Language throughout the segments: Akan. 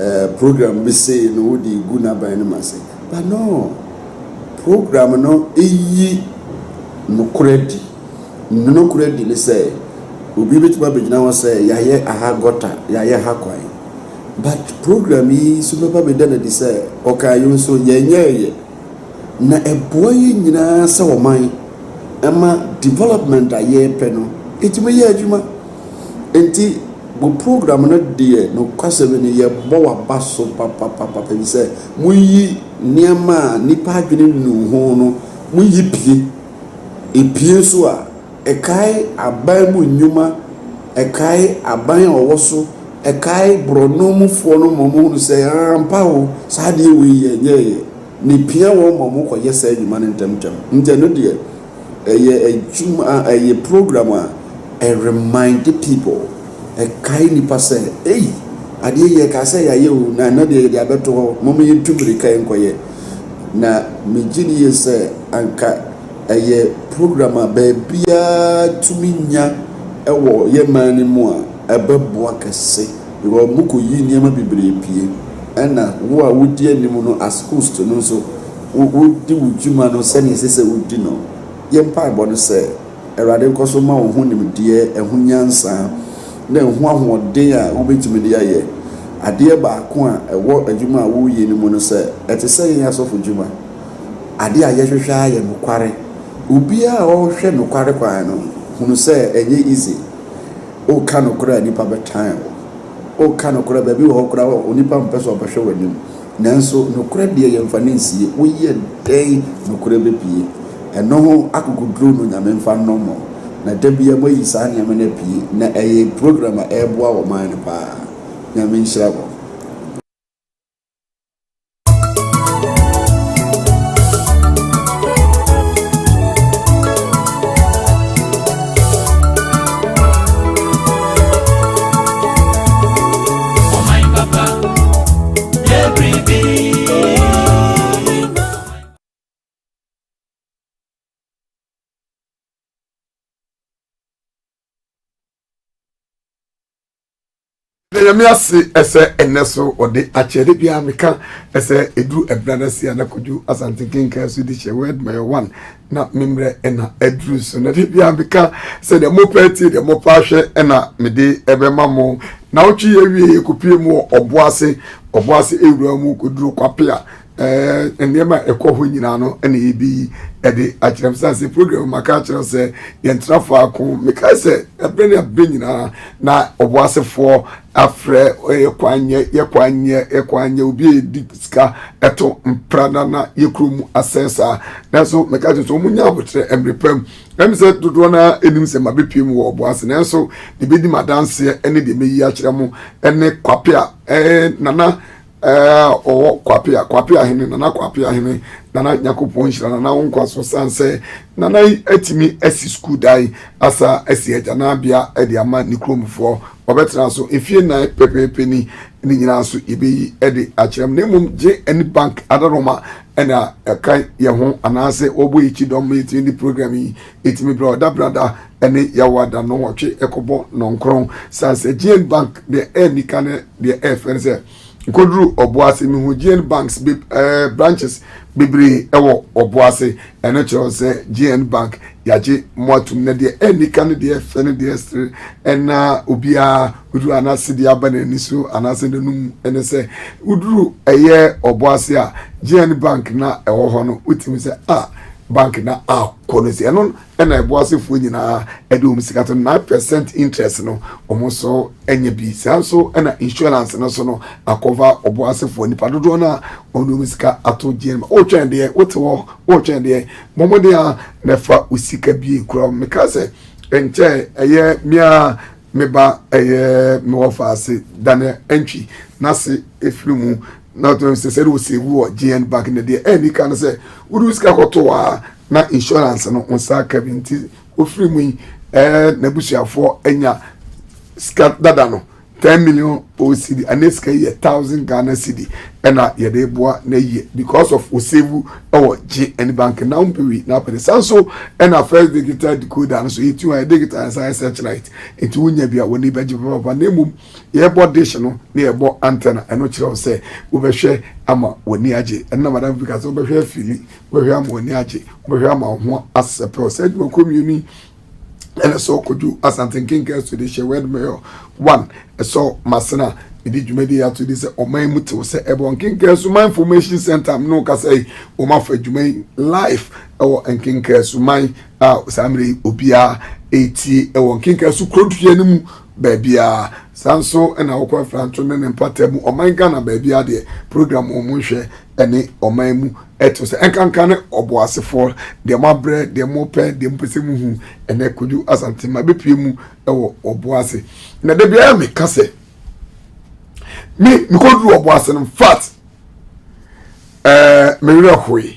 Eh program bi sei no wo de gu n'aban no mu ase but no program no eyi nokorɛ adi ne nokorɛ adi ne sɛ obi bɛtumi abɛgyina hɔ sɛ yɛayɛ aha gɔta yɛayɛ ha kwan but program yi nso bɛba bɛda no adi sɛ ɔkaa yɛn nso yɛnyɛɛyɛ na ɛboa yɛn nyinaa sɛ ɔman ɛma development a yɛpɛ no ɛtumi yɛ adwuma Enti mo program no deɛ nokwasɛm ni yɛbɔ waba so papapapa efisɛ moyi nneɛma a nnipa adwene nnu ho no moyi pie. Epie nso a ɛkae aban mu nnwuma, ɛkae aban a ɔwɔ so, ɛkae borɔno mufoɔ no ma wɔhunu sɛ ampa o saa adeɛ wei yɛnyɛeɛ na epia wɔn ma wɔkɔyɛ saa nnwuma no ntɛmntɛm. Enti ɛno deɛ. Ɛyɛ adwuma a ɛyɛ program a ɛ remind people, ɛkae nnipa sɛ ei adeɛ yi ɛkaa sɛ yɛayɛ o na ɛnɛ deɛ yɛde abɛto hɔ, momma yɛntu mmirika nkɔyɛ. Na megye di yie sɛ anka ɛyɛ program a baabiara tumi nya wɔ yɛn man no mu a ɛbɛboa kɛse because wɔkɔyi nneɛma bebree pue ɛna wo a wodi anim no as host no nso Wodi wo dwuma no sɛnea ɛsɛ sɛ wodi no. Yɛn mpaebɔ ne sɛ Awurade nkɔ so mma wo ho nimdeɛ, ɛho nyansa, ne ɛho ahoɔden a wubetumi de ayɛ. Adeɛ baako a ɛwɔ adwuma a woreyɛ no mu ne sɛ, ɛte sɛ yɛn asɔfodwuma, adeɛ a yɛhwehwɛ ara yɛ nokware. Obiara a ɔhwɛ nokware kwan no hunu sɛ ɛnyɛ easy. Woka nokorɛ a, nnipa bɛtan wo. Woka nokorɛ a, baabi wɔ hɔ koraa a onipa mpɛ sɛ ɔbɛhwɛ w'anim. Nanso nokorɛ deɛ yɛmfa no nsie, woyɛ dɛn nokorɛ bɛpue? Ɛno ho akokoduro no Nyame mfa nnɔ mo, na da biara moayi saa nneɛma no apue, na ɛyɛ program a ɛboa ɔman no paa. Nyame nhyira mo. nyame ase ɛsɛ ɛnɛ so ɔde akyɛde biara meka ɛsɛ ɛduru ɛbra no ase a na kɔdwu asante kenkan so de hyɛ word my one na me mmerɛ ɛna aduru so na da biara meka sɛ deɛ mopɛ atie deɛ mopɛ ahwɛ ɛna mede ɛbɛma mo na wotwe yɛ wie yɛkɔpie mu wɔ ɔbo ase ɔbo ase ɛwura mu kɔduru kwape a ɛɛ nneɛma a ɛkɔ hɔ nyinaa no ɛna yɛbi ɛde akyerɛ m sane sɛ program maka akyerɛ sɛ yɛntena faako mekae sɛ ɛberɛ ne ɛberɛ nyinaa na ɔbo asefoɔ Afrɛ yɛ kwan nyɛ yɛ kwan nyɛ yɛ kwan nyɛ obi a yɛdi sika ɛto mpra na na yɛ kuro mu asɛe saa nanso meka kyerɛ sɛ wɔn nya abotrɛ ɛmere pa mu ɛm sɛ dodoɔ no ara ɛnim sɛ ma bɛpie mu wɔ ɔbo ase nanso deɛ bɛdi ma danseɛ ɛne deɛ mɛyi akyerɛ mo ɛne kwape a ɛɛ nana Ɛɛ ɔwɔ kwapea kwapea hene nana kwapea hene nana nyakopɔn nhyira nana wo nkwa so san sɛ nana yi atumi asi sukuu dan asa asi agyanabea ɛde ama ne kuromfoɔ ɔbɛtena so mfie nan pɛpɛɛpɛ ni ne nyinaa so yɛbɛyi ɛde akyerɛ m na mmom gye ɛne bank adaroma ɛna ɛka yɛ ho anaasɛ wɔbɔ yɛkyi dɔm ma yɛtumi de program yi Etumi bra Ɔdabrada ne Yawoada nnɔnwɔtwe kɔbɔ nnɔnkron. Sa sɛ Gene Bank deɛ anni ka ne deɛ ɛfɛ ne sɛ nkoduru Ɔboase. Mehu Gene Banks be ɛɛ branches bebree ɛwɔ Ɔboase. Ɛno kyerɛw sɛ Gene Bank yagye mo atum na deɛ anni ka ne deɛ ɛfɛ ne deɛ ɛsere ɛna obiara oduru anase deɛ aba n'ani so anase n'anum mu ɛne sɛ woduru ɛyɛ Ɔboase a Gene Bank na ɛwɔ hɔ no wotumi sɛ ah bank na aw. kɔ no si ɛno ɛna ɛbɔ asefoɔ nyinaa ɛde wɔn sika to nine percent interest no wɔn nso ɛnyɛ bi saa nso ɛna insurance no so no akɔva ɔbɔ asefoɔ nipa dodoɔ no a wɔn de wɔn sika ato gyeɛ no ɔretwɛn deɛ wote hɔ ɔretwɛn deɛ mɔmɔden a na ɛfa osika bie kura meka sɛ nkyɛ ɛyɛ mia meba ɛyɛ mewɔ faase dane ɛntwi n'ase efiri mu. na ɔtena mu sɛ sɛ wɔ sɛ wu wɔ GN bank na deɛ ɛni ka no sɛ wode sika kɔto a na insurance no wo nsa aka bi nti wofiri mu yi ɛɛ n'abusuafoɔ anya sika dada no ten million OCD ɛne sika yi yɛ thousand Ghana cedi ɛna yɛde boa na yie because of wɔ sɛ wu ɛwɔ GN bank na wɔn bɛwi na apɛde san so ɛna first digital decoder no so yɛtu a yɛde digital nsa ɛsɛ kyerɛ it nti wonya bi a wɔn ni bɛgye papa na mmom yɛbɔ dish no na yɛbɔ antenna ɛno kyerɛ wo sɛ wobɛhwɛ ama w'ani agye ɛno na madam bi ka sɛ wobɛhwɛ afiri wobɛhwɛ ama w'ani agye wobɛhwɛ ama wo ho asɛpɛw saa adwumakuo mmienu yi ɛna sɛ ɔkɔdu asante nkenka so de hyɛ word mayor one ɛsɔ masena mede dwumadi ato di sɛ ɔman mu tew sɛ ɛbɔ nkenka so man information center no kasa yi wɔn afa adwuma yi life ɛwɔ nkenka so man a saa mmerɛ yi obiara ɛretie ɛwɔ nkenka so kurodua no mu baabiara. Saa nso na Awoko Afranto ne ne mpata mu ɔman Ghana baabiara deɛ program wɔn mu nhwɛ ne ɔman mu ɛto sɛ ɛnkanka ne ɔboasefoɔ deɛ mo abrɛ deɛ mo pɛ deɛ mo pɛ sɛ mo hu ɛnɛ Kojo Asante ma bɛpie mu ɛwɔ ɔboase na da biara me ka sɛ me me kɔduru ɔboase no fat ɛɛ me werɛ hoe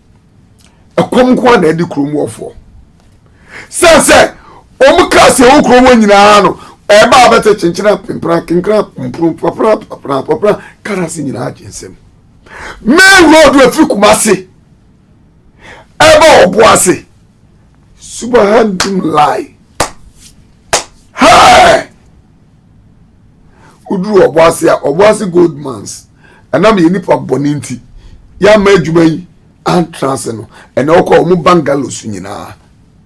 ɛkɔm nko ara na ɛde kurom wɔfoɔ sɛ sɛ wɔn ka sɛ ɛwɔ kurom hɔ nyinaa no ɛba abɛte kyenkyena pempena kenkena mpuru papra papra papra kara se nyinaa gye nsam main road afiri kumase ɛba ɔbo ase subahana lai. Hey! woduru ɔbɔ ase a ɔbɔ ase gold mines ɛnam yɛn nipa bɔne nti yɛama adwuma yi antra ase no ɛnna wɔkɔ wɔn bungalows nyinaa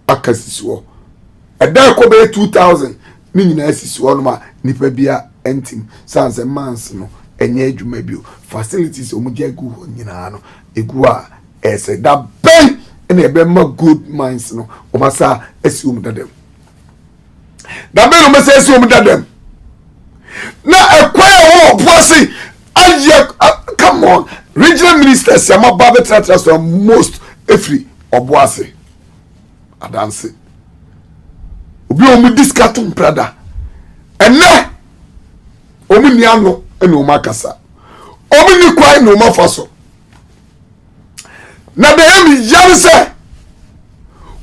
aka sisi hɔ ɛdan kɔ bɛyɛ two thousand ne nyinaa sisi hɔ nom a nipa bia ntim san sɛ mines no ɛnyɛ adwuma bio facilities a wɔn gya gu hɔ nyinaa no egu a ɛsɛ da bɛn ɛna ɛbɛma gold mines no wɔn asa asi wɔn dadam. na bɛn na wɔbɛsɛ asi wɔn dadam na ɛkwan a wɔwɔ po ase ayɛ come on regional ministers yɛ ma ba bɛtenatena so most efiri ɔbo ase adanse obi a wɔn di sika to mprada ɛnɛ wɔn ni ano na wɔn akasa wɔn ni kwan na wɔn afa so. na deɛ ɛyɛ me ya ne sɛ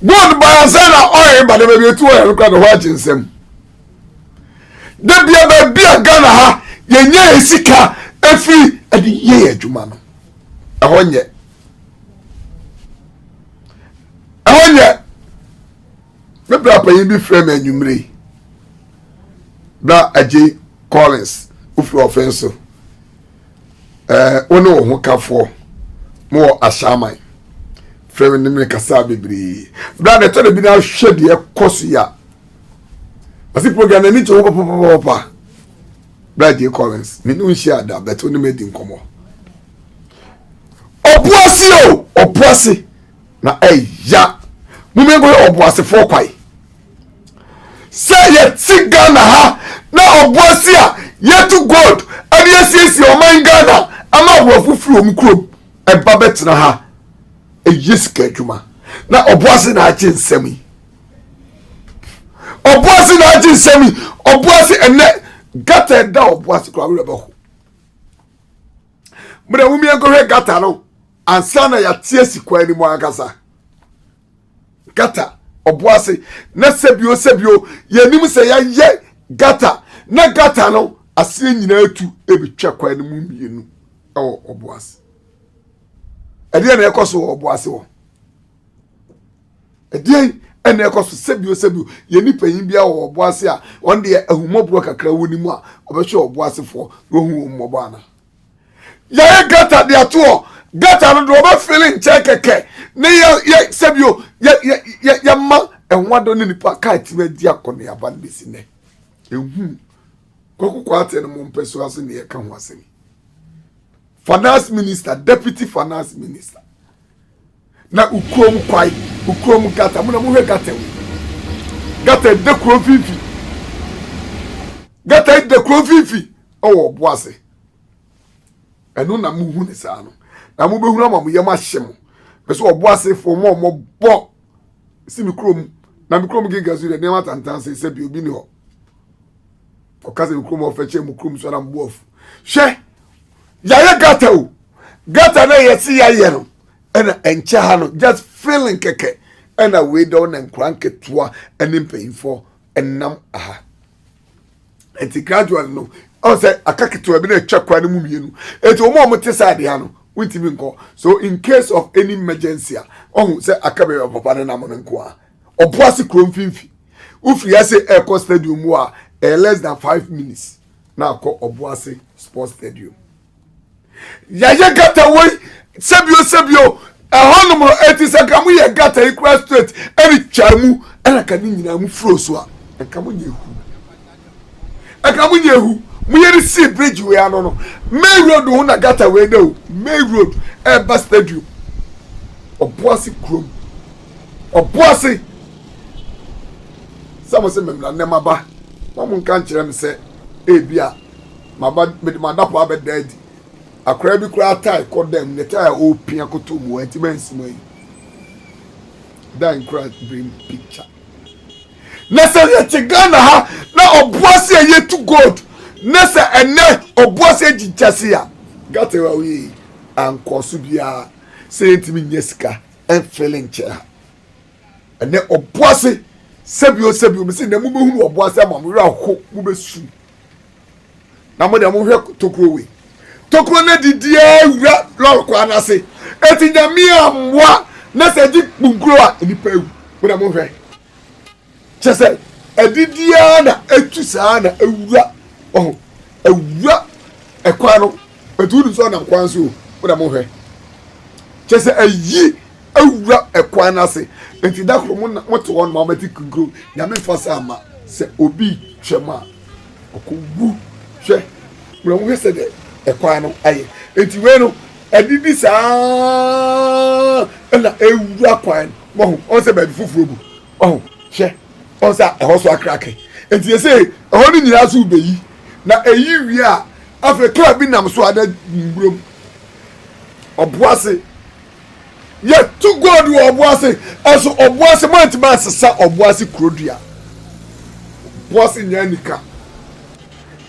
gold ba ansa na ɔyɛ ba de baabi etu ɔyɛ no kora na hɔ agye nsɛm debia baabi a ghana ha yɛnyɛ yɛ sika efiri ɛde yɛ yɛ adwuma no ɛhɔ nyɛ ɛhɔ nyɛ me bra panyin bi frɛ me anwummere yi bra agye collins ofiri ɔfɛn so Ɛɛ wo ne wo ho kafoɔ mo wɔ ahyɛaman frɛ me ne me kasa bebree berɛ a dɛtɔ da bi no ahwɛ deɛ ɛkɔ so yi a ɔse program no ani gye ho papapapapa berɛ a gye collins mene wo nhyia da bɛte wo ne madi nkɔmmɔ ɔpo ase o ɔpo ase na ɛya mom yɛnkɔhwɛ ɔboasefoɔ kwae sɛ yɛte ghana ha na ɔboa si a yɛtu gold ɛne yɛsiesie ɔman ghana ama aborɔfo firi wɔn kurom ɛba bɛtena ha ɛyɛ sika adwuma na ɔboa se na agye nsɛm yi ɔboa se na agye nsɛm yi ɔboa se ɛnɛ gata ɛda ɔboa se kora werɛ bɛho mmerɛ womiɛnkɔhwɛ gata no ansa na yɛate asi kwan no mu ankasa gata ɔbo ase na sɛbio sɛbio yɛnim sɛ yɛayɛ gata na gata no aseɛ nyinaa tu ɛbɛtwa kwan no mu mmienu ɛwɔ ɔbo ase ɛdeɛ na ɛkɔ so wɔ ɔbo ase wɔ ɛdeɛn ɛna ɛkɔ so sɛbio sɛbio yɛ ne panyin bi wɔ ɔbo ase a wɔn deɛ ahumɔborɔ kakra wɔ ne mu a ɔbɛhwɛ ɔbo asefoɔ na ɔhu wɔn mmɔbɔ ana yɛyɛ gata de ato hɔ gata no do wɔbɛfele nkyɛn kɛkɛ ne yɛ sɛbio yɛma ɛho adɔ ne nipa kaa tumi adi akɔneaba no bɛsi nɛ ɛhu kwakokɔ atɛ no mo mpɛ so ase ne yɛka ho asɛm finance minister deputy finance minister Na wo kurom kwae, wo kurom gata, mo na mohwɛ gata mu. Gata ɛda kuro mfimfini. Gata ɛda kuro mfimfini ɛwɔ ɔbo ase. Ɛno na mohu ne saa no. Na mobɛhunu ama mo yam ahye mo. Bɛsɛ ɔbo asefoɔ mo a wɔbɔ si me kurom. Na me kurom genka su dɛ nneɛma tantan se sɛ bi obi ni hɔ. Ɔka sɛ me kurom ɔfɛ kyɛ mo kurom so na mo bo afu. Hwɛ! Yɛayɛ gata o. Gata na yɛse yɛayɛ no. ɛna ɛnkyɛ ha no just feeling kɛkɛ ɛna wei dɛ ɔna nkora nketewa ɛne mpanyinfoɔ ɛnam aha ɛnti gradually no ɔn sɛ aka ketewa bi na ɛtwa kwan no mu mmienu ɛnti wɔn a wɔn te saa adeɛ ha no wontumi nkɔ so in case of any emergency a ɔho sɛ aka baabi a papa no nam no nko a ɔbo ase kuro mfimfi wofiri ase ɛkɔ stadium mu a ɛyɛ less than five minutes na akɔ ɔbo ase sports stadium. yɛayɛ gata wei sɛbio sɛbio ɛhɔ nom no ɛti sɛ nka mo yɛ gata yi kura straight ɛne twa mu ɛna ka ne nyinaa mo furo so a nka mo nyɛ ehu ɛka mo nyɛ ehu mo yɛ de si bridge wei ano no main road ho na gata wei dɛ o main road ɛba stadium ɔboase kurom ɔboase sɛ mo sɛ mmemmira nnɛma ba wɔn nka nkyerɛ me sɛ ebi a Maba mede m'adapaa bɛda adi. Akwadaa bi koraa tae kɔ dan mu, ne tae a ɔrepia koto mu, wanti mansi mu ayi. Dan nkura brim picture. Na sɛ yɛte Ghana ha na ɔboase a yɛtu gold na sɛ ɛnɛ ɔboase agyi gyase a gate a woyɛ yi ankɔɔ so biara sɛ yɛntumi nyɛ sika ɛmfele nkyɛ ha. Ɛnɛ ɔboase sɛbio sɛbio mese na mobɛhunu ɔboase ama mo werɛ aho mobɛsu na mo deɛ mo hwɛ tokuro wei tokuro no didiɛ wura lɔri kwan n'ase eti nyame amoa na sɛ di kpunkuro a nipa ewu mo deɛ mo hwɛ kyɛ sɛ adidiɛ na etu saa na ewura ɔho ewura ɛkwan no etu ni sɛ ɔnam kwan so o mo deɛ mo hwɛ kyɛ sɛ eyi Awura ɛkwan no ase. Enti da koro mo na mote hɔ nom a mobɛte kinkuro. Nyame mfa saa mma. Sɛ obi twam a, ɔkɔ wu. Hwɛ, bra wohwɛ sɛdeɛ ɛkwan no ayɛ. Enti wei no, adidi saa ara na ɛwura kwan no. Moahu? Ɔhu sɛ baabi foforɔ bu. Wahu? Hwɛ, ɔhu sɛ ɛhɔ so akrake. Enti seesei ɛhɔ no nyinaa so rebɛyi. Na ɛyi wie a, afei kaa bi nam so a na mmura mu. Ɔboase. Yɛtu gold wɔ ɔbo ase, ɛso ɔbo ase moantumi ansesa ɔbo ase kurodua. Ɔbo ase nyɛ anika.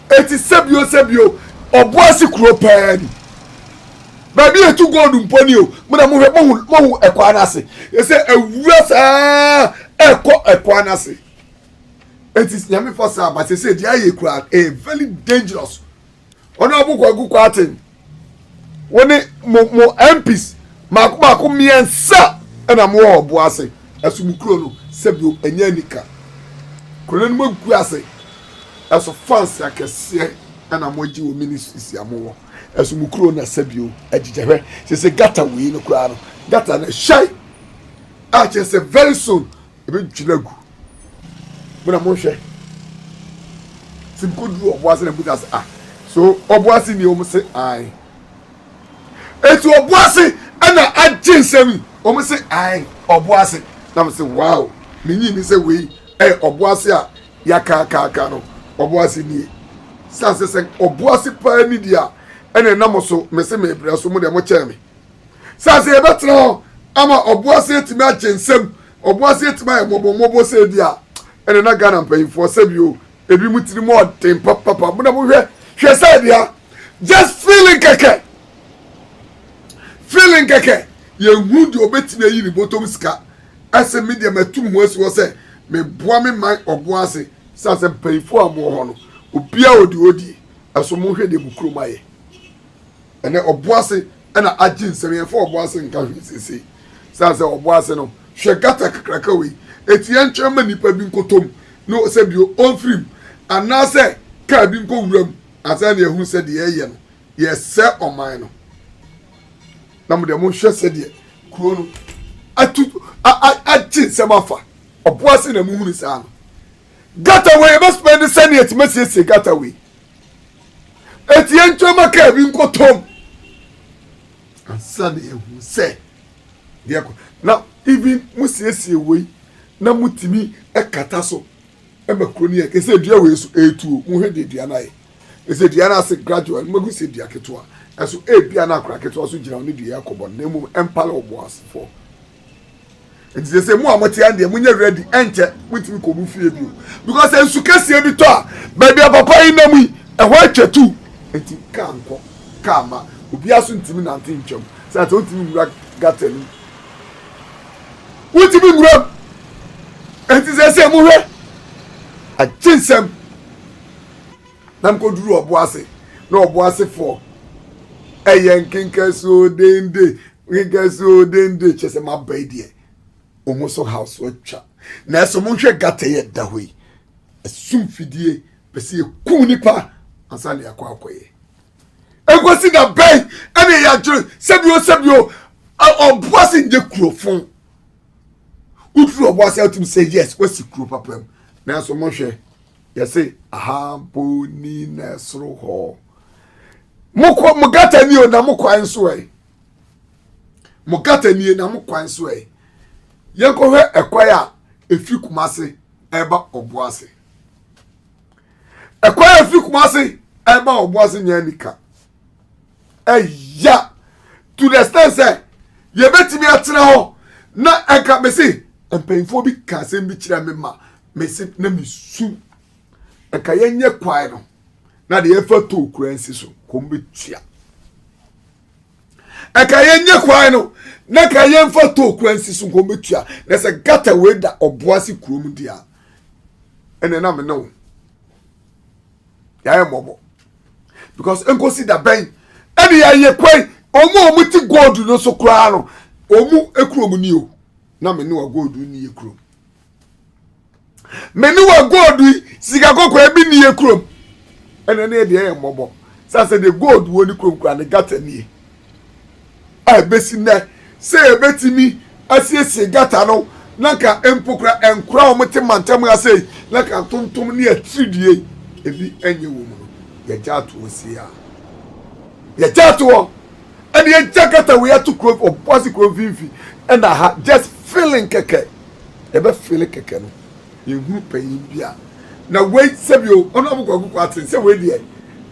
Eti sɛbio sɛbio ɔbo ase kuro paa ni. Baabi yɛtu gold mpo ni o, mo na mohwɛ mohu mohu ɛkwaa no ase. Yɛsɛ awura saa ɛkɔ ɛkwaa no ase. Eti nyame fa saa ba sɛ sɛ deɛ ayɛ kura ɛyɛ very dangerous Honourable Kwaku Kwarteng, wo ne mo mo MPs mako mako mmiɛnsa ɛna mo wɔ ɔbo ase ɛso mo kuro no sɛbio ɛnyɛ anika kuro no anim agu ase ɛso fans akɛseɛ ɛna mo agye wɔ ministries a mo wɔ ɛso mo kuro na sɛbio agyigya hwɛ sese gata wei no koraa no gata no hyɛe a kyerɛ sɛ very soon Ebedwiri agu. Mo na monhwɛ. Sɛ mekɔ duru ɔbo ase na mbusa ase ah so ɔbo ase nie wɔn se ae. Eti ɔbo ase ɛna agye nsɛm yi wɔn se ae ɔbo ase na mo se wow me nyi ni sɛ wei ɛyɛ ɔbo ase a yakaakaaka no ɔbo ase nie san sɛ sɛ ɔbo ase paa ni deɛ a ɛna ɛna mo so me se mebrɛ so mo deɛ mo kyɛɛ me Sɛ sɛ yɛbɛtena hɔ ama ɔboase atumi agye nsam, ɔboase atumi ayɛ mmɔbɔmmɔbɔ sɛ bi a, ɛne na Ghana mpanyinfoɔ sɛbi o, ebi mu tiri mu ɔden papapa, mo na mo hwɛ, hwɛ sɛ bi a, just feeling kɛkɛ, feeling kɛkɛ, yɛn hu deɛ ɔbɛtumi ayi ne bɔtɔm sika, ɛsɛ mi deɛ mɛtum ho asi hɔ sɛ, me boa me man ɔboase, sɛ sɛ mpanyinfoɔ a mo wɔ hɔ no, obiara ɔde ɔdie, ɛso mo hwɛ deɛ mo kurom ayɛ. Ɛnɛ ɔboase na agye nsɛm yɛmfa ɔboase nka hwee seesei sane sɛ ɔboase no hwɛ gutter kakraka wei enti yɛntwerɛ mma nnipa bi nkɔtɔ mu na ɔsɛ bio ɔmfiri mu anaasɛ kaa bi nkɔ wura mu ansa na yɛahunu sɛ deɛ yɛyɛ no yɛsɛ ɔman no na mo deɛ monhwɛ sɛdeɛ kuro no atu agye nsɛm afa ɔboase na mohunu saa no gata wei yɛbɛ spend sɛnea ɛtumi asiesie gata wei eti yɛn ntwa ma kaa bi nkɔtɔm ansa na ehu sɛ deɛ kɔ na even mo siesie wei na mo tumi ɛkata so ɛma kuro ne yɛ kɛsɛ dua wei so etuo mo hwɛ deɛ dua no ayɛ ɛsɛ dua no ase gradual no magu sɛ dua ketewa ɛso ebia no akora ketewa so gyina wo ne dua yɛ akɔbɔ no na mmom ɛmpale ɔboasefoɔ nti sɛ sɛ mu a mote ɛndeɛ monyɛ ready ɛnkyɛ motumi kɔ mu fie bio because nsu kɛseɛ bi tɔ a baabi a papa yi nam yi ɛhɔ atwa tu nti kaa nkɔ kaa ma obiara so ntumi nante ntwam sɛ sɛ wontumi nwura gata no wontumi nwura nti sɛ sɛ mohwɛ agye nsɛm na mkɔduru ɔbo ase na ɔbo asefoɔ ɛyɛ nkenka suo dende Yinka sɛ o den de kyɛ sɛ maba yi deɛ wɔn so house atwa na ɛsɛ wɔn hwɛ gata yi ɛda hɔ yi ɛsum fidie pɛ sɛ yɛkum nipa ansa na yɛakɔ akɔyɛ ɛkɔsi da bɛn ɛna yɛ adwene sɛbio sɛbio ɔboa sɛ nyɛ kurofon woturu ɔboa sɛ atum sɛ yes wasi kuro papa mu nanso wɔn hwɛ yɛse ahaboni na ɛsoro hɔ mokɔ mo gata ni o na mokɔ nso ɛ mo gata nie na mo kwan so ɛ yɛnkɔhwɛ ɛkwan a ɛfiri kuma ase ɛba ɔbo ase ɛkwan a ɛfiri kuma ase ɛba ɔbo ase nyɛ anika ɛya to the extent sɛ yɛbɛtumi atena hɔ na ɛka mese mpanyinfoɔ bi ka asɛm bi kyerɛ me ma mese na mesu ɛka yɛnyɛ kwan no na deɛ ɛfa to kura nsi so kɔm bɛtua ɛka yɛnyɛ kwae no na ka yɛmfa to kura nsi so kɔm bɛtua na sɛ gata wei da ɔboa se kurom deɛ a ɛnɛ na mene wo yɛayɛ mmɔbɔ because nkosi da bɛn ɛne yɛayɛ kwae ɔmo a ɔmo ti gold no so koraa no ɔmo kurom ni o na mene wa gold ni yɛ kurom me ne wa gold yi sika kɔkɔɔ bi ni yɛ kurom ɛna ne deɛ yɛ mmɔbɔ sɛ sɛ deɛ gold wɔ ne kurom kura ne gata nie a ɛbɛsi nnɛ sɛ yɛbɛtumi asiesie gata no na nka mpo kura nkora a wɔte mantam ase yi na nka ntontom ne atiridie yi ebi nyɛ wɔ mu no yɛgya atoɔ sie a yɛgya atoɔ ɛne yɛgya gata wei ato kuro ɔboase kuro mfimfini ɛna ha just feeling kɛkɛ yɛbɛ feeli kɛkɛ no, yɛhunu panyin bi a na wei sɛbio Honourable Kwaku Kwarteng sɛ wei deɛ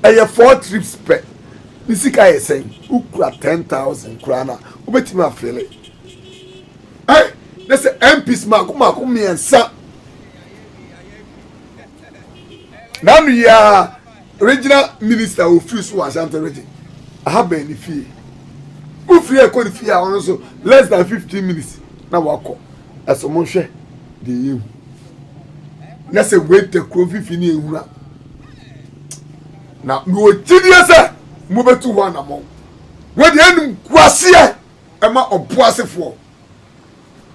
ɛyɛ four trips pɛ, ne sika yɛ sɛn, wokura ten thousand koraa no a wobɛtumi afeeli eh, na sɛ MPs mako mako mmiɛnsa na ano yi ara Regional minister a ofiri so wɔ Ashanti region, aha bɛn ne fie. Wofiri a ɛkɔ ne fie a ɔno nso less than fifteen minutes na wakɔ. Ɛso mo nhwɛ deɛ yɛhu. Na sɛ weta kuro fifi ne ehunu a, na mewɔ gyidie sɛ mobɛtu hɔ anamɔn. Wɔde anim kwaseɛ ɛma ɔboasefoɔ.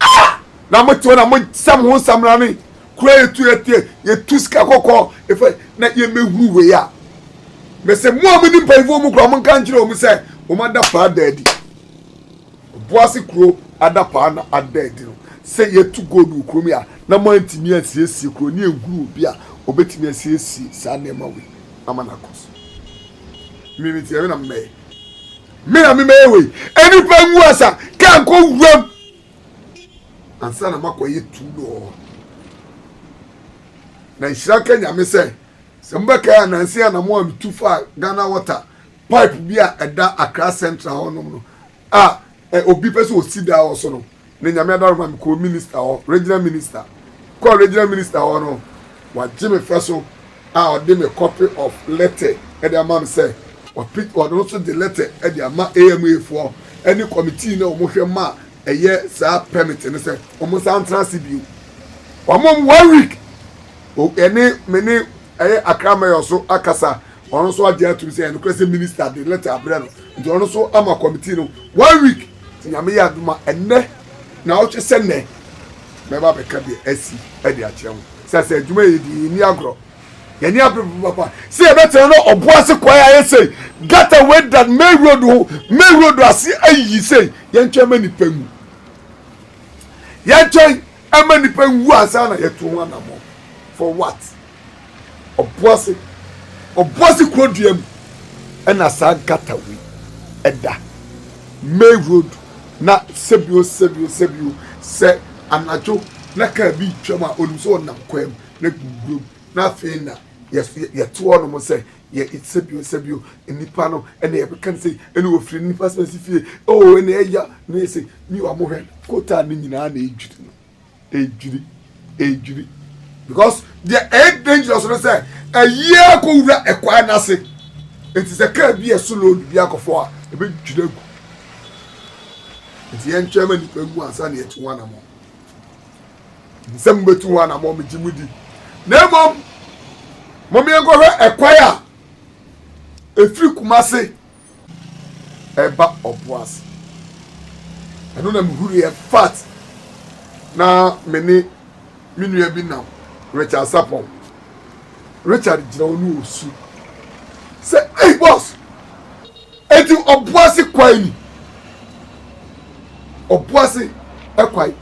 Ah! Na mo te hɔ na mo sɛ mo ho nsamrane kura yɛtu yɛtu yɛtu sika kɔkɔɔ efa na yɛmɛhuru wei a mɛsɛ mo a mo ni mpanyinfoɔ mu kura mo nka nkyerɛ wɔn sɛ wɔn ada paa da adi boase kuro ada paa na ada adi no sɛ yɛtu gold wɔ kurom yi a na mo antumi ansiesie kuro ne nhuru obi a ɔbɛtumi asiesie saa nneɛma wei ama no akɔ so mmiri mi tiɛ me na mmɛyɛ Me na me mɛyɛ wei. Nnipa ngu asa, kaa nkɔ wuram. Ansa na makɔyɛ tu lɔɔ. Na nhyira ka nyame sɛ sɛ mobɛkae a nanse ana mo a metu faa Ghana water pipe bi a ɛda Accra Central hɔnom no a obi pɛ sɛ osi dan wɔ so no Ne Nyame adaro ma me kɔɔ minister hɔ, regional minister. Kɔɔ regional minister hɔ no, wagye me fɛ so a ɔde me copy of letter de ama me sɛ ɔpit ɔno nso de letter de ama AMA foɔ ne committee no a wɔn hwɛ ma ɛyɛ saa permit no sɛ wɔn nsa ntra ase bio. Wɔn one week, ɛne me ne ɛyɛ Accra mayor nso akasa. Ɔno nso agye atum sɛ ɛyɛ nokorɛ sɛ minista de lɛta abrɛ no nti ɔno nso ama kɔmitii no one week nti Nyame yɛ adom a ɛnnɛ naawɔtwe sɛ nnɛ mɛba abɛka deɛ asi de akyerɛ mo sɛ sɛ adwuma yɛ di yɛnni agorɔ yɛne abere papapapa sɛ yɛbɛtena no ɔbo ase kwae ayɛ sei gata wei da main road ho main road ase ayiyi sei yɛntwɛn ma nipa nwu yɛntwɛn ma nipa nwu ansa na yɛto ho anammɔ for what Ɔboase, Ɔboase kuro dua mu na saa nkatawe da. May Road na sɛbio sɛbio sɛbio sɛ anadwo na kaa bi retwam a onim sɛ ɔnam kwan mu na gugurom na afei na yɛto hɔnom sɛ yɛ sɛbio sɛbio nnipa no ɛna yɛbɛka no sɛ ɛna wɔfiri nnipa sɛ si fie oo ɛna ɛya na yɛ sɛ mi wɔn hwɛ kota ne nyinaa na ɛdwiri no. edwiri edwiri because deɛ ɛyɛ dangerous no sɛ ayie akɔ wura ɛkwan n'ase eti sɛ kaa bi yɛ so load bi akɔfo a ebe dwiri agu eti yɛn twɛn ma nipa gu ansa na yɛtu ho anamɔ nsɛm betu ho anamɔ megye mu di na mmom mo mmea nkɔhwɛ ɛkwan a efiri kumase. ɛba ɔbo ase. Ɛno na mehuruiɛ fat na me ne me nua bi nam Richard Sapong. Richard gyina hɔ ne ɔsu sɛ, Ei boss! Enti ɔbo ase kwae ni? Ɔbo ase kwae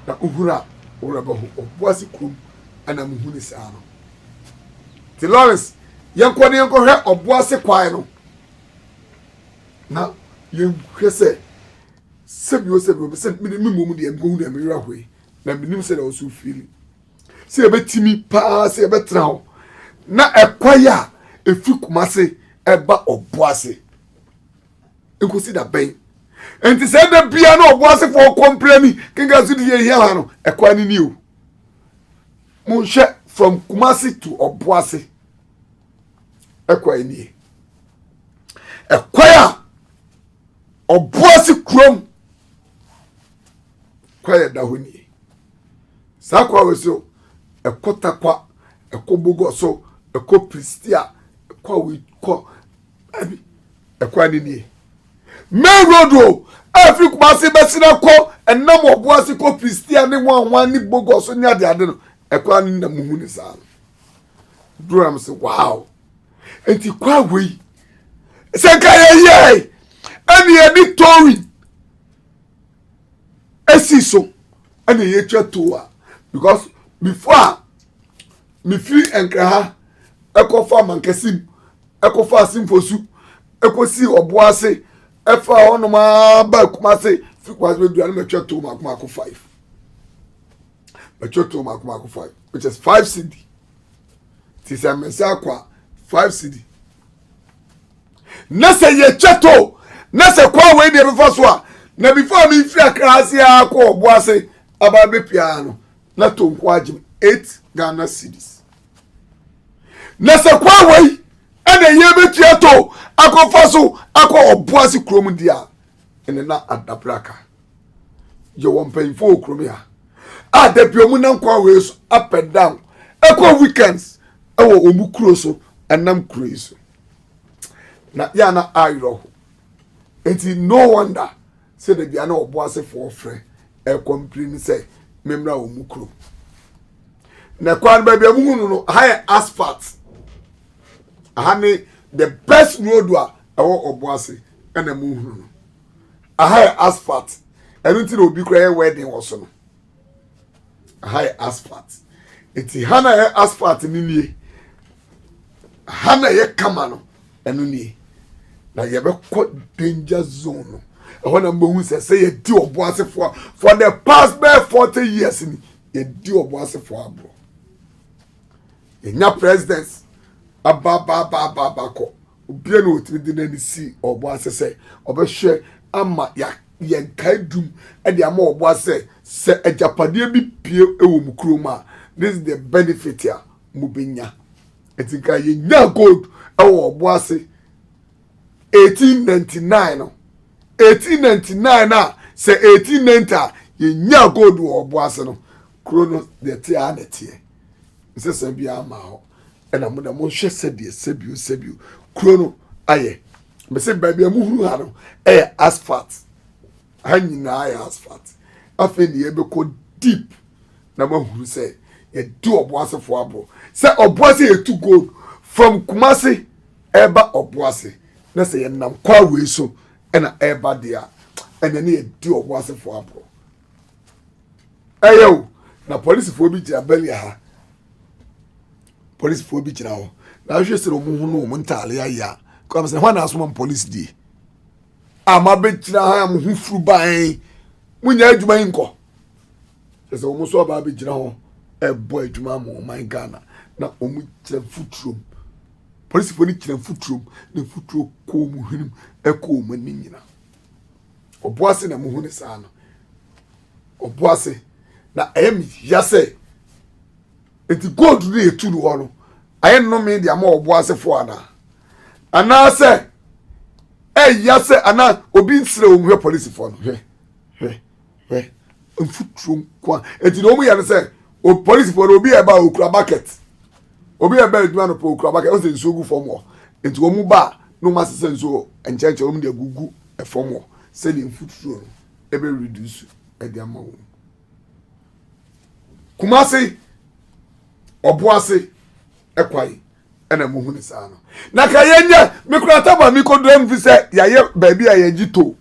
na wohunu a wo werɛ bɛho. Ɔbo ase kurom na mehu no saa no. ti lawrence yɛnkɔ ne yɛnkɔhwɛ ɔbo ase kwae no na yɛnhwɛ sɛ sɛbi o sɛbi o sɛ mede me mmom deɛ mehu deɛ meyera hɔ yi na menim sɛ deɛ ɔso fili sɛ yɛbɛtumi paa sɛ yɛbɛtena hɔ na ɛkwae a ɛfiri kuma ase ɛba ɔbo ase nkosi da bɛn nti sɛ da bia na ɔbo asefoɔ kɔmprɛ ni kenka so de yɛ hia ha no ɛkwae no ni o Monhwɛ from Kumasi to Ɔboase ɛkwan nie ɛkwan a Ɔboase kurom kwan yɛ da hɔ nie saa kwan wɔ so ɛkɔ takwa ɛkɔ bogɔ so ɛkɔ pristia ɛkɔ awikɔ ɛbi ɛkwan ne nie main road o ɛfiri kumase bɛsena kɔ ɛnam ɔbo ase kɔ kristia ne wanwan ne bogɔ so ne ade ade no ɛkwan ne na mu hu ne saa no duro nam sɛ wow nti kwan wei sɛ nka yɛyɛe ɛne yɛde towing ɛsi so ɛne yɛtwa tow a because before a mefiri nkra ha ɛkɔfa mankɛse mu ɛkɔfaa Simfosu ɛkɔsii Ɔboase ɛfaa hɔnom ara baa Kumase fi Kumase bɛdura no mɛtwɛ too maako maako five mɛtwɛ too maako maako five which is five cd ti sɛ mmɛsɛ akɔ a five cd na sɛ yɛtwɛ too na sɛ kɔ a wei deɛ bɛfa so a na before mi firi akra ase a kɔ ɔbo ase aba bɛ pia no na to nko agyem eight ghana cedis. na sɛ kwan wei ɛna yɛ bɛtumi ato akɔfa so akɔ ɔbo ase kurom deɛ a ɛne na adabra ka yɛwɔ mpanyinfoɔ wɔ kurom a a dabi ɔmo nam kwan wei so up and down ɛkɔ weekends ɛwɔ ɔmo kuro so ɛnam kuro yi so na yɛana ayerɛ ho nti no wonder Sɛdeɛ bia na ɔboasefoɔ frɛ ɛkɔ mprenu sɛ memmra wɔn mu kurom. Na kwan baabi a muhu no no, ha yɛ asphalt. Aha ne the best road a ɛwɔ ɔboase ɛna muhunu no. Aha yɛ asphalt. Ɛno nti na obi kora yɛ wedding wɔ so no. ha yɛ asphalt nti ha na yɛ asphalt no nie ha na yɛ kama no ɛno nie na yɛbɛkɔ danger zone no ɛhɔ na mbɛhu sɛ sɛ yɛdi ɔbo asefoɔ for the past bɛɛ forty years ni yɛdi ɔbo asefoɔ aborɔ yɛnya president abaabaabaabakɔ obia na ɔtumi de n'ani si ɔbo ase sɛ ɔbɛhwɛ ama yɛn kae dum de ama ɔbo ase sɛ agyapadeɛ bi pie wɔ mu kurom a this is the benefit a mobɛnya ɛti nka yɛnya gold wɔ ɔbo ase 1899 no 1899 no a sɛ 1890 a yɛnyaa gold wɔ ɔbo ase no kuro no deɛ te a na ɛteɛ nsɛsɛ biara ma hɔ ɛna mo na monhwɛ sɛdeɛ sɛbio sɛbio kuro no ayɛ mese baabi a mohunu ha no ɛyɛ asphalt ha nyinaa yɛ asphalt afei ne yɛbɛkɔ deep na moahunu sɛ yɛde ɔboasefoɔ aboɔ sɛ ɔboase yɛtu gold from kumase ɛreba ɔbo ase, na sɛ yɛnam kwa wei so na ɛreba deɛ a, ɛnna ne yɛdi ɔbo asefoɔ agorɔ. Ɛyɛ o, na polisifoɔ bi gyina Belia ha. Polisifoɔ bi gyina hɔ. Na ahwɛ sɛ wɔn ho no wɔn ntaare ayɛ a, kɔm sɛ hwan na asoma mo polisi die? A mo abɛgyina ha a mo ho furu ban, mo nyɛ adwuma yi nkɔ. Kyerɛ sɛ wɔn nso aba abɛgyina hɔ ɛbɔ adwuma ma ɔman Ghana na wɔn kyerɛ futurom. Polisifo no gyina mfuturo mu, na mfuturo kɔ wɔn hwenem kɔ wɔn ani nyina. Ɔbo ase na muhu ne saa no. Ɔbo ase. Na ɛyɛ me hia sɛ, nti gold no yɛtu no hɔ no, ayɛ nnome de ama ɔbo asefo anaa? Anaasɛ ɛyɛ sɛ anaa obi nsrɛ wɔn hwɛ polisifo no hwɛ hwɛ. hwɛ mfuturo nko a eti na wɔn yɛ no sɛ o polisifoɔ no obi a ɛba okura bucket obi a ɛba adwuma no pɔ okura bucket ɔsɛ nsuo gu fam hɔ nti wɔn ba a na wɔn asesa nsuo nkyɛnkyɛn wɔn de agugu fam hɔ sɛdeɛ mfuturo no ɛbɛ reduce ɛde ama wɔn kumase ɔboase ɛkwan. ɛna mo hu ne saa no na ka yɛ nyɛ me kura taba mi kɔ dura mu fi sɛ yɛayɛ baabi a yɛgye to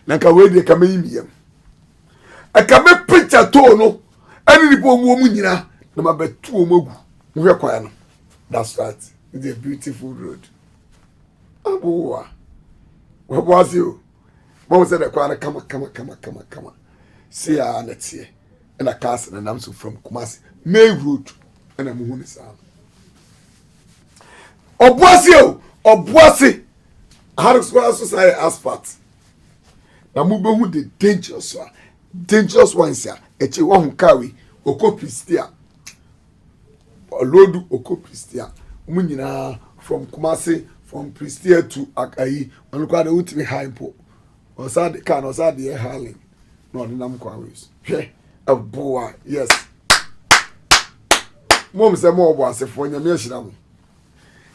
na ka wei deɛ ka mɛyi mi yam ɛka mɛ picture too no ɛne nipa wɔn wɔn nyina na ma bɛtu wɔn agu mo hwɛ kwan no that's right it's a beautiful road aboa wɔboa se o bɔn sɛ dɛ kwan no kama kama kama kama kama se a na teɛ. na cars nenam so from Kumasi May road na muhu ne saa no ɔboase o ɔboase aharesoa so saa yɛ asphalt na mobɛhu the dangerous one dangerous ones a ɛkyɛ wɔho kaa wei ɔkɔ pristia ɔlɔdu ɔkɔ pristia mu nyinaa from Kumasi from pristia to akayi ɔno koraa de wotumi ha mpo Ɔsa de car no ɔsa de yɛ Harley na ɔde nam kwan wei so. Hwɛ ɛboa yes. Mom sɛ mo ɔbɔ asefoɔ nyame ahyira mo.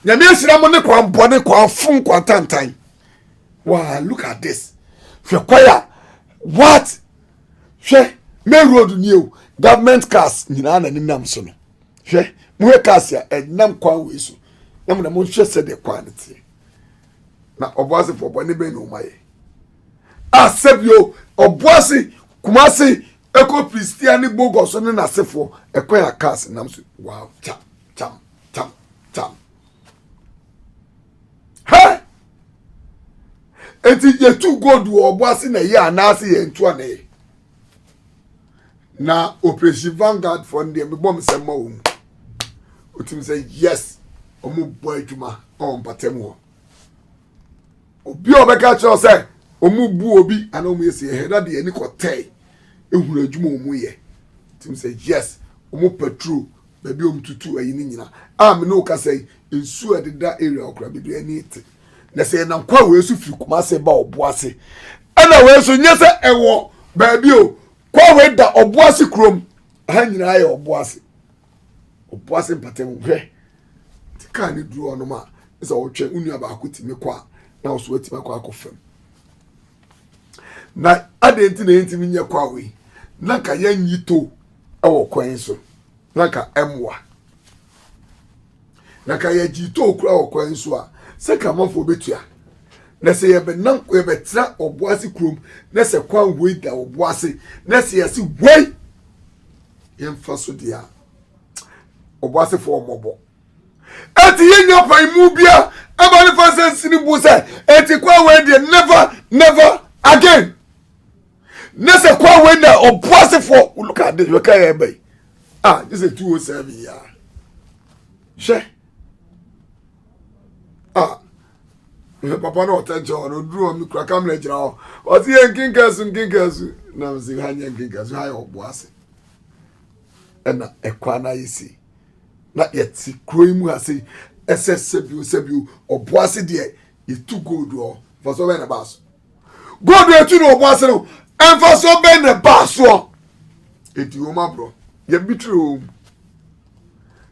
Nyame ahyira mo ne kwan bɔ ne kwan fun kwan tantan. Wow look at this. Hwɛ kwan a what hwɛ main road ni o government cars nyinaa na nenam so no. Hwɛ mo hwɛ cars a ɛnam kwan wei so. Na mo na mo hwɛ sɛ de kwan no teɛ. na ɔboasefoɔ bɔne bɛn na wɔn ayɛ a sɛbio ɔboase kumase ɛkɔ filistia ne bogɔ so ne n'asefoɔ ɛkwan a cars nam so wow kyam kyam kyam kyam hɛ eti yɛtu gold wɔ ɔboase na yɛ anaase yɛn to anayɛ na operation vanguard fɔ no deɛ mebɔ mesɛm ma wɔ mu ɔtumi sɛ yes ɔmo bɔ adwuma ɔwɔ mpatam hɔ obi a ɔbɛka kyerɛ sɛ ɔmo bu obi anaa ɔmo yɛ sɛ yɛhɛ na deɛ ani kɔtɛe ehunu adwuma ɔmo yɛ ɔtumi sɛ yes ɔmo patrol baabi ɔmo tutu ayi ne nyina a me ne ɔkasa yi nsuo a ɛdeda area ɔkora bebree ani te. na sɛ yɛnam kwa wei so firi kumase ba ɔboase ɛna wei so nyɛ sɛ ɛwɔ baabi o kwa wei da ɔboase kurom ha nyinaa yɛ ɔboase ɔboase mpatam hwɛ nti kaa ne duru ɔnom a sɛ ɔtwɛn wo nua baako tumi kɔ a na wo so atumi akɔ akɔ fam na adeɛ nti na yɛntumi nyɛ kwa wei na nka yɛnyi to ɛwɔ kwan so na nka ɛmmoa Na ka yɛ gyii too kura wɔ kwan so a, sɛ ka amanfoɔ bɛtua. Na sɛ yɛ bɛnam yɛ bɛtra ɔboase kurom, na sɛ kwan woi da ɔboase, na sɛ yɛ se woi yɛ mfa so deɛ a, ɔboasefoɔ ɔmɔbɔ. Eti yɛ nya pa imu bia, ɛba ne fa sɛ nsini bu sɛ, eti kwan woi deɛ never, never again. na sɛ kɔ awei na ɔbo asefoɔ look at this wɔka yɛ ɛbɛ yi ah this is two oh seven ya hwɛ ah papa no ɔtɛ nkyɛn ɔno duru ɔmi kura kamara gyina hɔ ɔsi yɛ nkinkan su nkinkan su na mo si ha nyɛ nkinkan su ha yɛ ɔbo ase ɛna ɛkwan na ayɛ si na yɛte kuro yi mu ase ɛsɛ sɛbio sɛbio ɔbo ase deɛ yɛtu gold wɔ fɔsɔ bɛyɛ na baa so. God etu na ɔbɔ ase no ɛnfa so bɛn na ɛbaa soɔ eti wɔn aborɔ yɛn bi tiri wɔn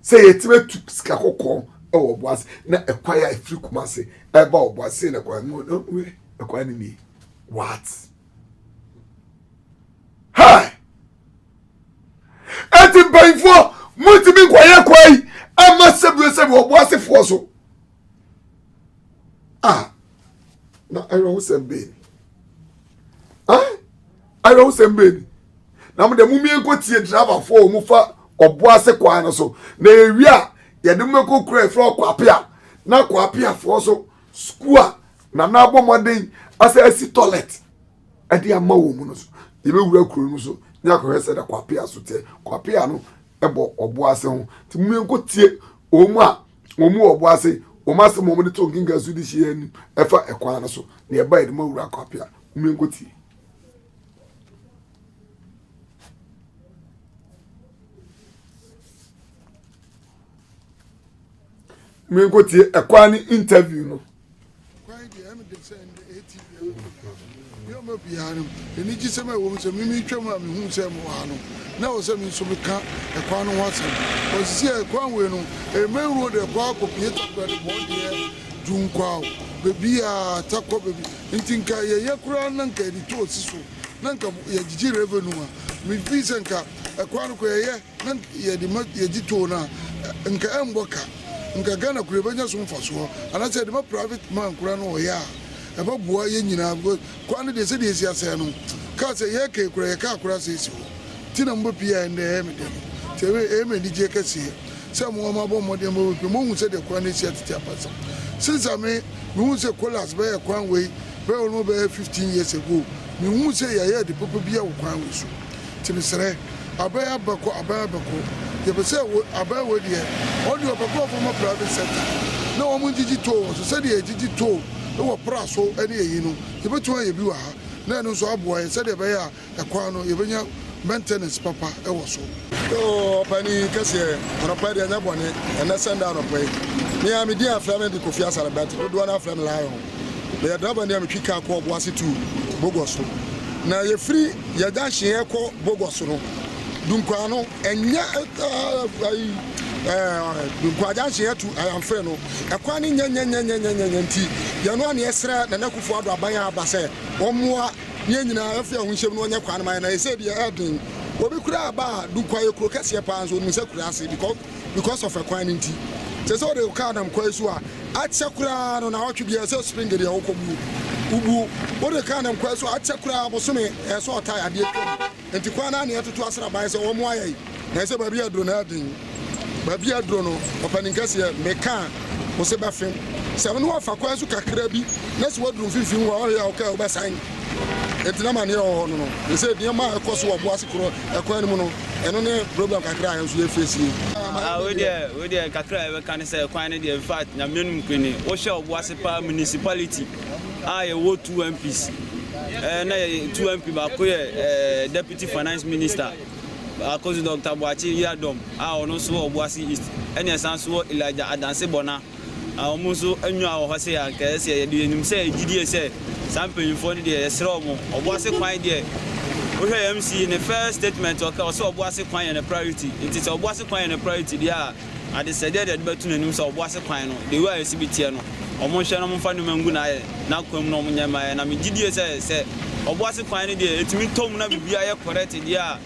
sɛ yɛtumi atu sika kɔkɔɔ ɛwɔ ɔbɔ ase na ɛkwan yɛ efiri kuma ase ɛba ɔbɔ ase na ɛkwan mu na ɔwɛ ɛkwan ne nie what hi eti mpanyinfoɔ mo ntumi nkɔyɛ kwan yi ɛma sɛbi sɛbi ɔbɔ asefoɔ so. ah na awerɛhosɛm bɛn ah awerɛhosɛm bɛn na mo deɛ mo mie nkɔ tie driverfoɔ a wɔfa ɔbo ase kwan no so na ewie a yɛde mo bɛkɔ kura efra ɔkɔ apea na kɔ apeafoɔ so sukuu a nana abɔ mmɔden asɛ asi toilet ɛde ama wɔn mu no so yɛbɛwura kuro no so ne akɔhwɛ sɛ da kɔ apea so teɛ kɔ apea no ɛbɔ ɔbo ase ho nti mo mie nkɔ tie wɔn mu a. wɔn mu ɔbo ase wɔn asɛm wɔn de to nkenkan so de hyia anim ɛfa ɛkwan no so na ɛba yɛde ma wura kwape a wɔn nko tie. wɔn nko tie ɛkwan ne interview no Kwan deɛ ɛno deɛ sɛ ɛnde ɛyɛ ti bia no nipa ne ɔma biara no anigyesɛm a ɛwɔ mu sɛ mimi twam a mehu sɛ mo wɔ ha no na ɛwɔ sɛ me nso meka ɛkwan no ho asɛm ɔsisi a ɛkwan wei no ɛmain road ɛkɔ akɔpie takora de bɔɔ deɛ dunkwao baabi a takɔ baabi nti nka yɛyɛ koraa na nka yɛde to ɔsi so na nka yɛgyegye revenue a mefi sɛ nka ɛkwan no kɔ yɛyɛ Na yɛde ma yɛgye too no a, nka ɛmbɔ ka. Nka Ghana kura bɛnya so mfasoɔ. Anaasɛ yɛde ma private man koraa no ɔyɛ a, ɛbɛboa yɛn nyinaa because kwan no deɛ sɛdeɛ ɛsi asɛe no, kaa sɛ yɛreka yi koraa, yɛ kaa koraa asɛe si hɔ. Nti na mobɛpue a ɛndɛ ɛyɛ me dɛ no. Nti ɛyɛ me anigyeɛ kɛseɛ sɛ mo a moabɔ mmɔden ma wɔbɛpue, moahu sɛdeɛ kwan no asi atete ampa sɛ. Since a me, mehuu sɛ Colas bɛyɛɛ kwan wei bɛyɛ ɔno bɛyɛ 15 years ago, menhuu sɛ yɛayɛ ade papa biara wɔ kwan wei so. Timi srɛ abɛɛ abɛkɔ abɛɛ abɛkɔ yɛpɛ sɛ wo abɛɛ wei deɛ ɔno deɛ ɔpɛ nkorɔfoɔ ɔmɔ private sector na wɔn ngyegye toll wɔn so sɛdeɛ yɛgyegye toll wɔ pra so ne ɛyi no yɛbɛtumi ayɛ bi wɔ ha na ɛno nso aboa yɛn sɛdeɛ ɛbɛyɛ a ɛkwan no yɛbɛnya maintenance papa wɔ so. Yoo ɔpani kɛseɛ anɔpa yi deɛ ɛnyɛ bɔne ɛnɛ sɛnda anɔpa yi me a me din afrɛ me de Kofi Asare but dodoɔ no ara frɛ me Lion. Meyɛ drabani a metwi kaa kɔ Ɔboase tu Bogor so. Na yɛfiri yɛ junction yɛkɔ Bogor so no, Dunkwaa no, ɛnyɛ ayi Dunkwaa junction atu Ayamfrɛ no, ɛkwan no nyɛ nyɛnyɛnyɛnyɛnyɛ nti, yɛn no a na yɛsrɛ Nana Akufo-Addo aban a aba sɛ ɔmmoa na yɛn nyinaa yɛmfa yɛn ho nhyɛm na ɔnyɛ kwan no ma yɛn, na ɛsei deɛ ɛɛden. Obi koraa ba a, Dunkwaa yɛ kuro kɛseɛ paa nso onim sɛ kuraase because. because of ɛkwan no nti. Te sɛ wode wo car nam kwan so a, akyɛ koraa no naawɔtwe biara ɛsɛ spring deɛ wokɔbuo. Wobuo. Wode car nam kwan so a, akyɛ koraa bosome ɛyɛ sɛ ɔtae adeɛ twam. Nti kwan no ara na yɛtoto asraban sɛ wɔmmoa yɛn. Nansɛ baabi a aduro no ɛden. Baabi a aduro no, ɔpanin kɛseɛ, me car wo se bɛfem. Sɛ wo ne wɔfa kwan so kakra bi na sɛ woaduru mfimfini hɔ a, ɔhwɛ a wo car wobɛsan. Enti na amaneɛ wɔ hɔ no no, te sɛ nneɛma a ɛkɔ so wɔ Boase korɔ ɛkwan no mu no, ɛno ne problem kakra a yɛn nso yɛ facie. Ah wei deɛ wei deɛ kakra a yɛbɛka ne sɛ kwan no deɛ in fact Nyame anim kwan ni. Wohwɛ wɔ Boase paa municipality a yɛwɔ two MPs eh, na yɛ two MP baako yɛ eh, deputy finance minister baako nso Dr. Boakye Yiadom a ɔno nso wɔ Boase East ɛne ɛsan nso wɔ Elijah Adanse Bɔna. Na wɔn nso nnwaa wɔ hɔ se anka ɛyɛ sɛ yɛde yɛnim sɛ gyidie sɛ saa mpanyinfoɔ no deɛ yɛsrɛ wɔn ɔboase kwan deɛ wohwɛ yɛn MC ne first statement ɔka ɔse ɔboase kwan yɛ ne priority nti sɛ ɔboase kwan yɛ ne priority deɛ a adesɛdeɛ deɛ ɛdebɛto n'anim sɛ ɔboase kwan no the way a yɛse bi teɛ no wɔn nhwɛ na wɔn mfa nneɛma ngu nayɛ nakwan mu na wɔn nyɛ mma yɛn na me gyidie sɛ sɛ ɔboase kwan no deɛ ɛtumi tɔ mu na biribiara yɛ correct deɛ a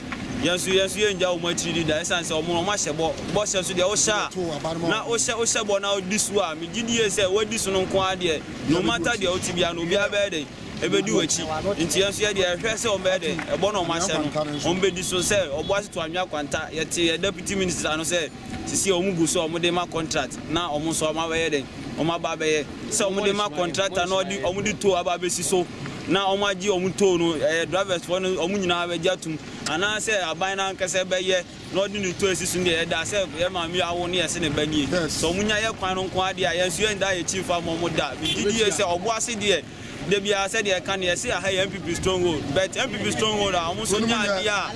Yɛn nso, yɛn nso yɛrenngya wɔn akyiri di da, esiane sɛ wɔn, wɔahyɛ bɔ, bɔhyɛ nso deɛ wohyɛ a, na wohyɛ, wohyɛ bɔ na wodi so a, megye di yie sɛ woadi so no nko ara deɛ, no matter deɛ wote biara no, obiara bɛyɛ dɛn? Ɛbɛdi w'akyi. Enti yɛn nso, yɛ deɛ yɛhwɛ sɛ wɔbɛyɛ dɛn? Ɛbɔ no a wɔahyɛ no, wɔbɛdi so. Sɛ, ɔboase to anwea kwanta, yɛtee yɛn Deputy Minister no sɛ, Sesie wɔn gu so a wɔn de ma kɔntrat na wɔn nso wɔn abɛyɛ dɛn? Wɔn aba abɛyɛ. Sɛ wɔn de ma kɔntrata na ɔde wɔn de tow aba abɛsi so na wɔn agye wɔn tow no, ɛyɛ drivers foɔ no wɔn nyinaa bɛgye atum anaa sɛ aban no ankasa bɛyɛ na ɔde ne tow asi so deɛ ɛda sɛ yɛ maame yi awo ne yɛse ne ba nie. Sɛ wɔn nya yɛ kwan no nko ara deɛ a yɛn nso yɛn da yɛn akyi mfa mma wɔn da. Megye die sɛ ɔbo ase deɛ. Da biara sɛdeɛ ɛka no yɛse aha yɛ NPP stronghold but NPP stronghold a ɔmo nso nya adeɛ a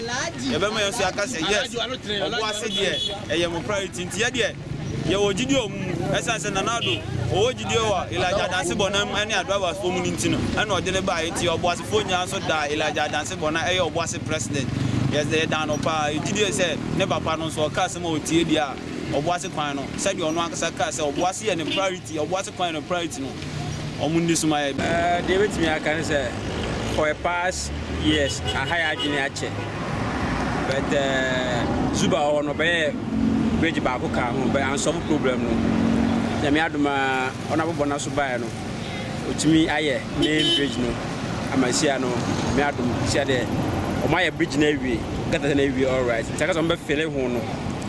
yɛbɛma yɛn nso yɛaka sɛ yes Ɔboase deɛ ɛyɛ mo priority nti yɛ deɛ yɛwɔ gyidie ɔmo mu ɛsiane sɛ Nana Addo ɔwɔ gyidie wɔ Elijah Adanse Bɔnam mu ɛne Adravers foɔ mu no nti no ɛna ɔde no baeɛ nti Ɔboasefoɔ nyinaa nso daa Elijah Adanse Bɔnam ɛyɛ Ɔboase president yɛsɛ yɛdaa no paa yɛ gyidie sɛ ne papa no nso ɔka asɛm a ɔtie deɛ a Ɔboase kwan no sɛdeɛ ɔno ankasa kaa sɛ Ɔboase yɛ ne priority Ɔboase kwan yɛ ne priority no wɔn nni so ma yɛn. Deɛ mɛtumi aka ne sɛ for the past years aha yɛn adwene akyɛ but Zuba wɔ hɔ no ɔbɛyɛ bridge baako kaa ho but ansɔfo problem no nyame adom a ɔno abɔbɔ no so baeɛ no ɔtumi ayɛ main bridge no ama sia no nyame adom sia deɛ wɔn ayɛ bridge no awie gata no awie alright nti aka sɛ wɔn bɛfele ho no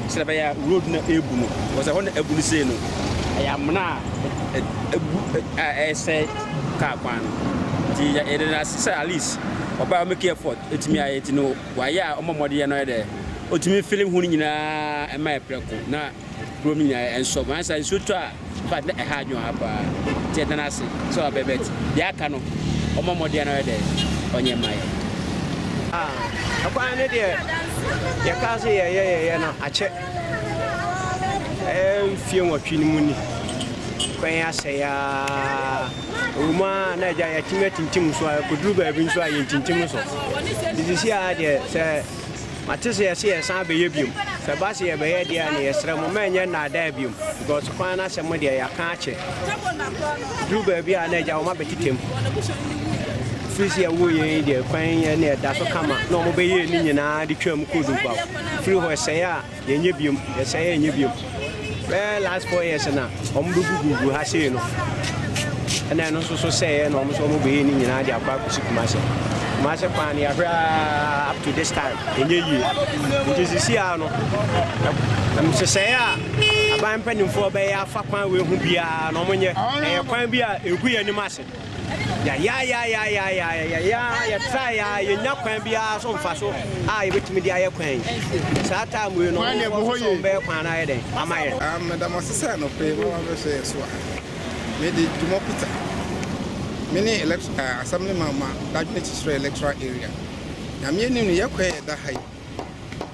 sɛ ɛbɛyɛ road no ɛbu no wɔsɛ hɔ no abu no sei no ɛyɛ amena a abu a ɛresɛe kaa kwan no. Nti yɛde no ase sɛ at least ɔbaa ɔmo care effort etumi ayɛ ti no wayɛ a ɔmo mmɔden yɛ no ayɛ dɛ otumi fili ho no nyinaa ɛma yɛ prɛko na kurom nyinaa ɛnsɔ wɔn ansa nsuo tɔ a fa na ɛha adwene ha paa nti yɛde no ase sɛ ɔbɛ bɛt deɛ aka no ɔmo mmɔden no ayɛ dɛ ɔnyɛ mma yɛ. Ah, ɛkwan ne deɛ yɛkaa sɛ yɛyɛ yɛyɛ no akyɛ. Ɛyɛ mfie nwɔtwe no mu ni. Kwan asɛe ara. Ɛwɔ mu ara na agya yɛatumi atintim so a ɛkɔduru baabi nso a yɛntintim so. Nti sisi ara deɛ sɛ mate sɛ yɛse yɛsan abɛyɛ biom. Sɛ ba se yɛbɛyɛ deɛ a na yɛsrɛ mo ma ɛnyɛ nnaadaa biom because kwan no asɛm deɛ yɛaka akyɛ. Duru baabi a na agya wɔn abɛtetɛm. Firi sɛ yɛwoo yɛn yi deɛ kwan ne ɛda so kama na wɔbɛyɛ ne nyinaa de twaa mu kɔɔ Dunkwaw. firi hɔ ɛsɛe a yɛnyɛ biom yɛsɛe a yɛnyɛ biom bɛɛ last four years na wɔn bɛ gugugu ha sei no ɛna ɛno nso so sɛɛ na wɔn nso wɔn bɛyɛ ne nyinaa de akɔ akɔsi kumase kumase kwan no yɛahwɛ aa up to this time ɛnyɛ yie nti sisi a no nhyehyɛeɛ a aban mpanimfoɔ bɛyɛ afa kwan wei ho biara na wɔn nyɛ ɛyɛ kwan bi a ɛgu yɛn anim ase Yɛayaayaayaayaayaayaayaayaa, yɛtrae ara, yennya kwan biara so mfaso a yebetumi de ayɛ kwan yi. Saa time wei no, wɔn a wɔhwɛ sɛ wɔbɛyɛ kwan no ayɛ dɛn ama yɛn? Meda mo ase sɛ anɔpa yi moaba abɛhwɛ yɛn so ha. Mede Dumor Peter. Mene elect, ɛɛ, Assemblyman ma Dadwene Kyekyerɛ Electoral Area. Nea me anim no, yɛn kwan a ɛda ha yi.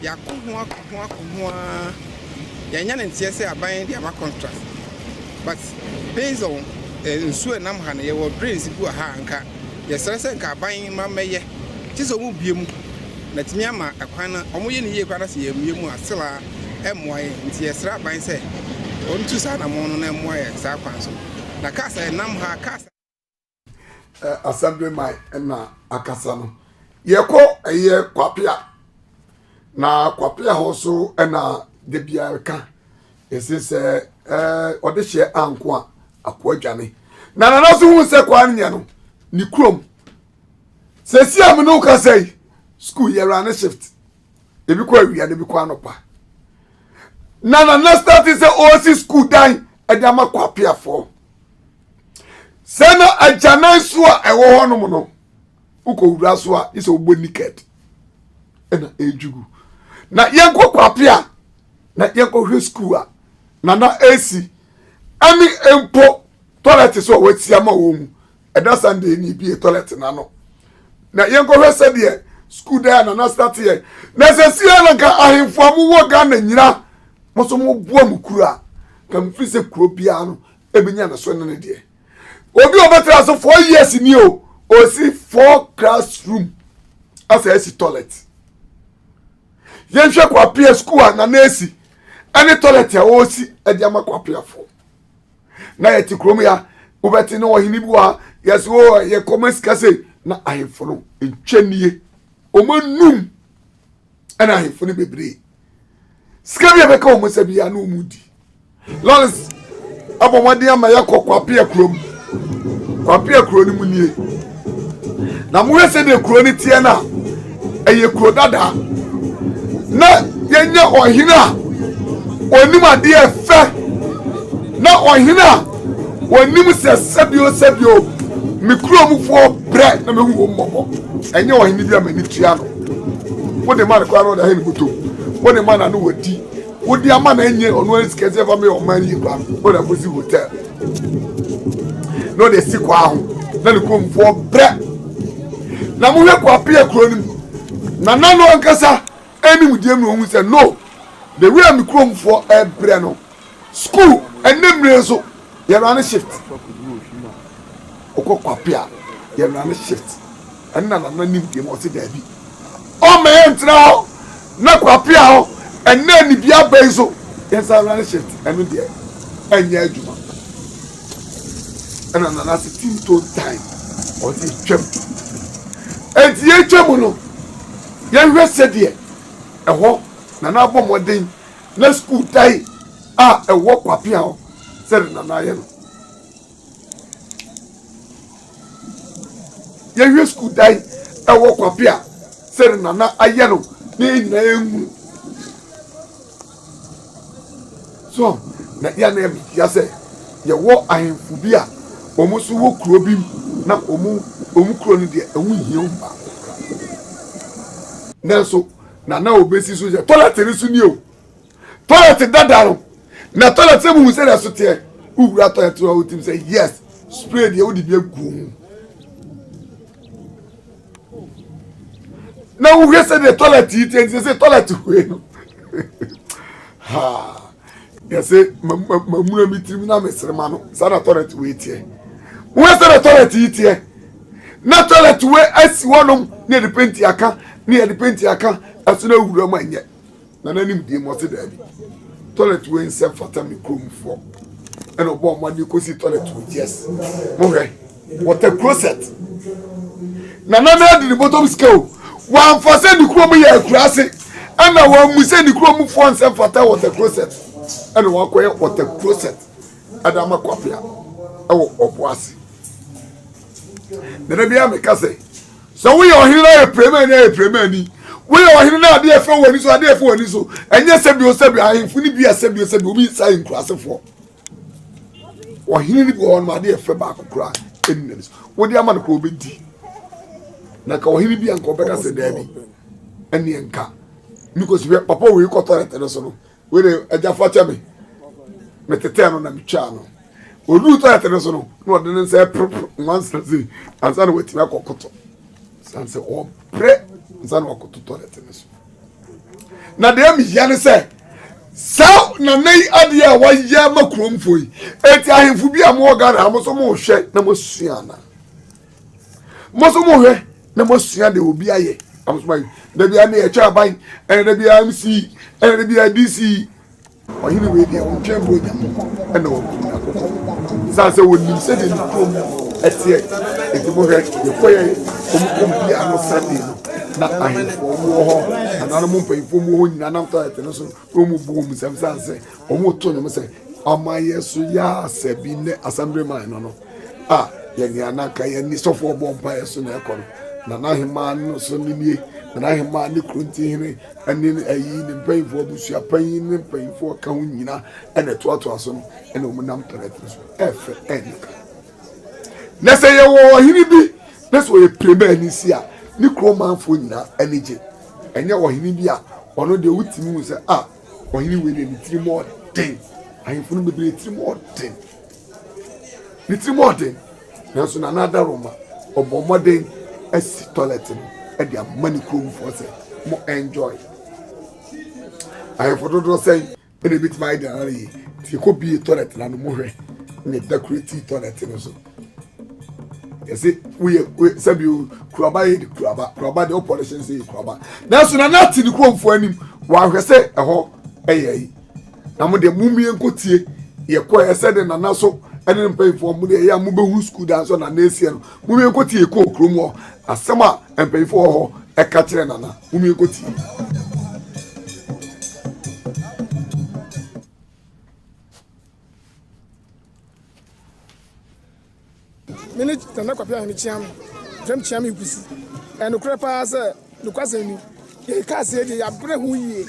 Yɛako ho ako ho ako ho ara yɛanya no nteɛ sɛ aban de ama contract but based on eh, nsuo a ɛnam ha no yɛwɔ drains bi wɔ ha a nka yɛsrɛ sɛ nka aban ma mmɛyɛ gye sɛ wɔn bue mu na atumi ama ɛkwan no wɔn yɛ no yie koraa na sɛ yɛmmue mu a still a ɛmmoa yɛn nti yɛsrɛ aban sɛ wɔn tu saa anamɔn no na ɛmmoa yɛn saa kwan so na cars a ɛnam ha cars Assemblyman na akasa no yɛkɔ ɛyɛ kwapea na kwapea hɔ so na da biara ka ɛsɛ sɛ ɔde hyɛ anko a akoa dwane na nana so hu sɛ kwaa no nya no ne kurom sɛsi a me ne woka sɛ yi school yɛwura ne shift ebi kɔ awia na ebi kɔ anɔpa na nana start sɛ ɔresi school dan ɛde ama kwapeafoɔ sɛ na agyanan so a ɛwɔ hɔnom no wokɔwura so a gye sɛ wobɔ niket ɛna ɛdwugu na yɛnkɔ kwape a na yɛnkɔhwɛ skuul a na na ɛsi ɛne mpo tɔlɛt so a wɔasi ama wɔ mu ɛda sunday ne bie tɔlɛt no ano na yɛnkɔhwɛ sɛdeɛ skuul dan a na na stateɛ na sɛ sia na nka ahemfo a mowɔ ghana nyina mo so moboa mo kuro a ka mfiri sɛ kuro biara no ebi nya ne so ne ne deɛ obi a ɔbɛtena so four years ni o osi four classroom asa esi toilet yɛnhwɛ kwapea sukuu a nana esi ɛne toilet a ɔresi ɛde ama kwapeafoɔ na yɛte kurom ya wobɛte ne ɔhene bi wa yɛsɛ o yɛkɔma sika sei na ahemfo no ntwa nie ɔma num ɛna ahemfo no bebree sika bi a ɛbɛka wɔn nsa biara na wɔn di lɔres abɔ mmɔden ama yɛkɔ kwapea kurom kwapea kuro no mu nie na mohwɛ sɛdeɛ kuro no teɛ no a ɛyɛ kuro dadaa na yɛnyɛ ɔhene a ɔnim adeɛ fɛ na ɔhene a ɔnim sɛ sɛbio sɛbio me kuromufoɔ brɛ na mehu wɔ mmɔbɔ ɛnyɛ ɔhene bi a m'ani tua no Wode ma no koraa na ɔde ahɛn bɔtɔ mu. Wode ma no a na wadi. Wode ama no ɛnyɛ ɔno ara sika sɛ fa meyɛ ɔman no yie paa no, na ɔde akɔsi hotel na ɔde asi kwaa ho na ne kuromfoɔ brɛ. Na mohwɛ kwaa pia kuro no mu. Nana no ankasa anim deɛ mu na ɔhu sɛ no, the way a me kuromfoɔ ɛbrɛ no, School ɛnɛ mmire nso yɛ rane shift okɔ kwape a yɛ rane shift ɛne na nana nim deɛ mu ɔse daabi ɔma yɛ ntena hɔ na kwape a hɔ ɛnɛ ne bi abɛn so yɛn sa rane shift ɛno deɛ ɛnyɛ adwuma ɛna nana se team tone time ɔde atwam ɛnti yɛ atwam no yɛnhwɛ sɛdeɛ ɛhɔ nana abɔ mmɔden na sukuu dan a ɛwɔ kwapea hɔ sɛde na n'ayɛ no yɛwie sukuu dan ɛwɔ kwapea sɛde na na ayɛ no ne yɛ nyinaa yɛnhu so na yɛn na yɛ metia sɛ yɛwɔ ahemfo bi a wɔn nso wɔ kuro bi mu na wɔn wɔn kuro no deɛ ɛho hia wɔn paa nanso. na na obesi so yɛ toilet no so ni o toilet dada no na toilet sɛ mu sɛ na so teɛ wowura toilet no a wotim sɛ yes spray deɛ wode bi agu mu na wohwɛ sɛ deɛ toilet yi teɛ nti sɛ toilet hue no ha deɛ sɛ mamuna me tirim na mesere ma no saa na toilet wei teɛ woɛ sɛ na toilet yi teɛ na toilet wei asi hɔnom ne yɛde penti aka ne yɛde penti aka ɛso no awura mu anyɛ na n'anim deɛ mu ɔse daabi toilet wei nsɛ fata me kuromfoɔ ɛna ɔbɔ ɔmo adeɛ kɔsi toilet wei yes mohwɛ wɔtɛ closet na nana adi ne bɔtɔm sika o wɔamfa sɛ ne kurom yɛ akuraase ɛna wɔamu sɛ ne kurom foɔ nsɛm fata wɔtɛ closet ɛna wɔakɔyɛ wɔtɛ closet ɛde ama kwapea ɛwɔ ɔbo ase nana bia meka sɛ sɛ woyɛ ɔhene no ayɛ prɛmani ayɛ prɛmani woyɛ ɔhene no adeɛ fɛ w'ani so adeɛ fɛ w'ani so ɛnyɛ sɛbio sɛbio ahemfo no bi a sɛbio sɛbio obi nsa nkurasefoɔ ɔhene no bi wɔ hɔ no adeɛ fɛ baako koraa ɛni n'ani so wode ama no koraa ɔbɛdi na ka ɔhene bi a nka ɔbɛka sɛ daabi ɛneɛ nka because hwɛ papa wei kɔ tɔrɛte no so no wei de agya fa kyɛ me metetɛɛ no na metwaa no ɔduu tɔrɛte no so no na ɔde ne nsa ɛporoporo nwansa sei ansa na watumi akɔkoto sane sɛ ɔbrɛ nsa na wakoto tɔrɛte no so na deɛ mehia ne sɛ saa nana yi adeɛ a wayɛ ma kuromfo yi eti ahemfo bi a mowɔ ghana ha mo nso mohwɛ na moasua ana mo nso mohwɛ na moasua deɛ obi ayɛ na mo nso moayɛ da biara ne ɛtwa aban ɛna da biara mc ɛna da biara dc Ɔhene wei deɛ, ɔntwɛn mpo Onyankopɔn na wabu no atɔtɔ. Ɛsiane sɛ ɔnim sɛdeɛ ne kurom teɛ nti, mohwɛ, yɛkɔeɛ wɔn kurom biara no Sunday no, na ahemfo wɔn wɔ hɔ, nananom mpanyimfoɔ wɔn wɔ hɔ nyinaa nam toilet no so na wɔn bu wɔn nsam ɛsiane sɛ wɔn reto nnwom sɛ, Ɔman yɛ so yɛ asɛ bi ne Assemblyman no no. a yɛ nea na anka yɛn nisɔfo ɔbɔ mpaeɛ so na ɛkɔ no na n'ahemmaa no so no nie na n'ahemmaa ne kuro ntihene ne ayi ne mpanyinfoɔ abusua panyin ne mpanyinfoɔ ka ho nyina ɛna ɛtoatoa so no ɛna wɔn nam pɛrɛtene so ɛfɛ ɛnyɛ ka na sɛ yɛwɔ ɔhene bi na sɛ ɔyɛ pirema ani si a ne kuro manfoɔ nyinaa ani gye ɛnyɛ ɔhene bi a ɔno deɛ wotumi hu sɛ a ɔhene wei deɛ ne tirim ɔden ahemfo no bebree tirim ɔden ne ti mu ɔden nanso nana adaroma ɔbɔ mmɔden asi tɔlɛt no de ama ne kuromfoɔ sɛ mo enjoy ahemfo dodoɔ sɛn ɛna ebitumi ayɛ deɛ ara yie nti yɛkɔ bie tɔlɛt no ano mo hwɛ na ɛdakureti tɔlɛt no so yɛsi woyɛ woyɛ sɛbi o kuraba yɛ de kuraba kuraba de ɔpɔlɛhyɛn sɛ yɛ kuraba nanso nana ati ne kuromfoɔ anim wɔahwɛ sɛ ɛhɔ ɛyɛ yi. na mo deɛ mumie nkɔtie yɛkɔɛ ɛsɛ de nana so ɛne ne mpanyinfoɔ mo deɛ ɛyɛ a mobɛhu sukuu dan so nana asiɛ no mumie nkɔtie yɛkɔɔ kurom hɔ asɛm a mpanyinfoɔ hɔ ɛka kyerɛ nana mumie nkɔtie Me ne Nana Kwapea Ahene Kyeame, James Kyeame Nkwusi. Ɛyɛ nokorɛ paa sɛ, nokwasɛm ni, yɛn kaaseɛ deɛ yɛabrɛ ho yie.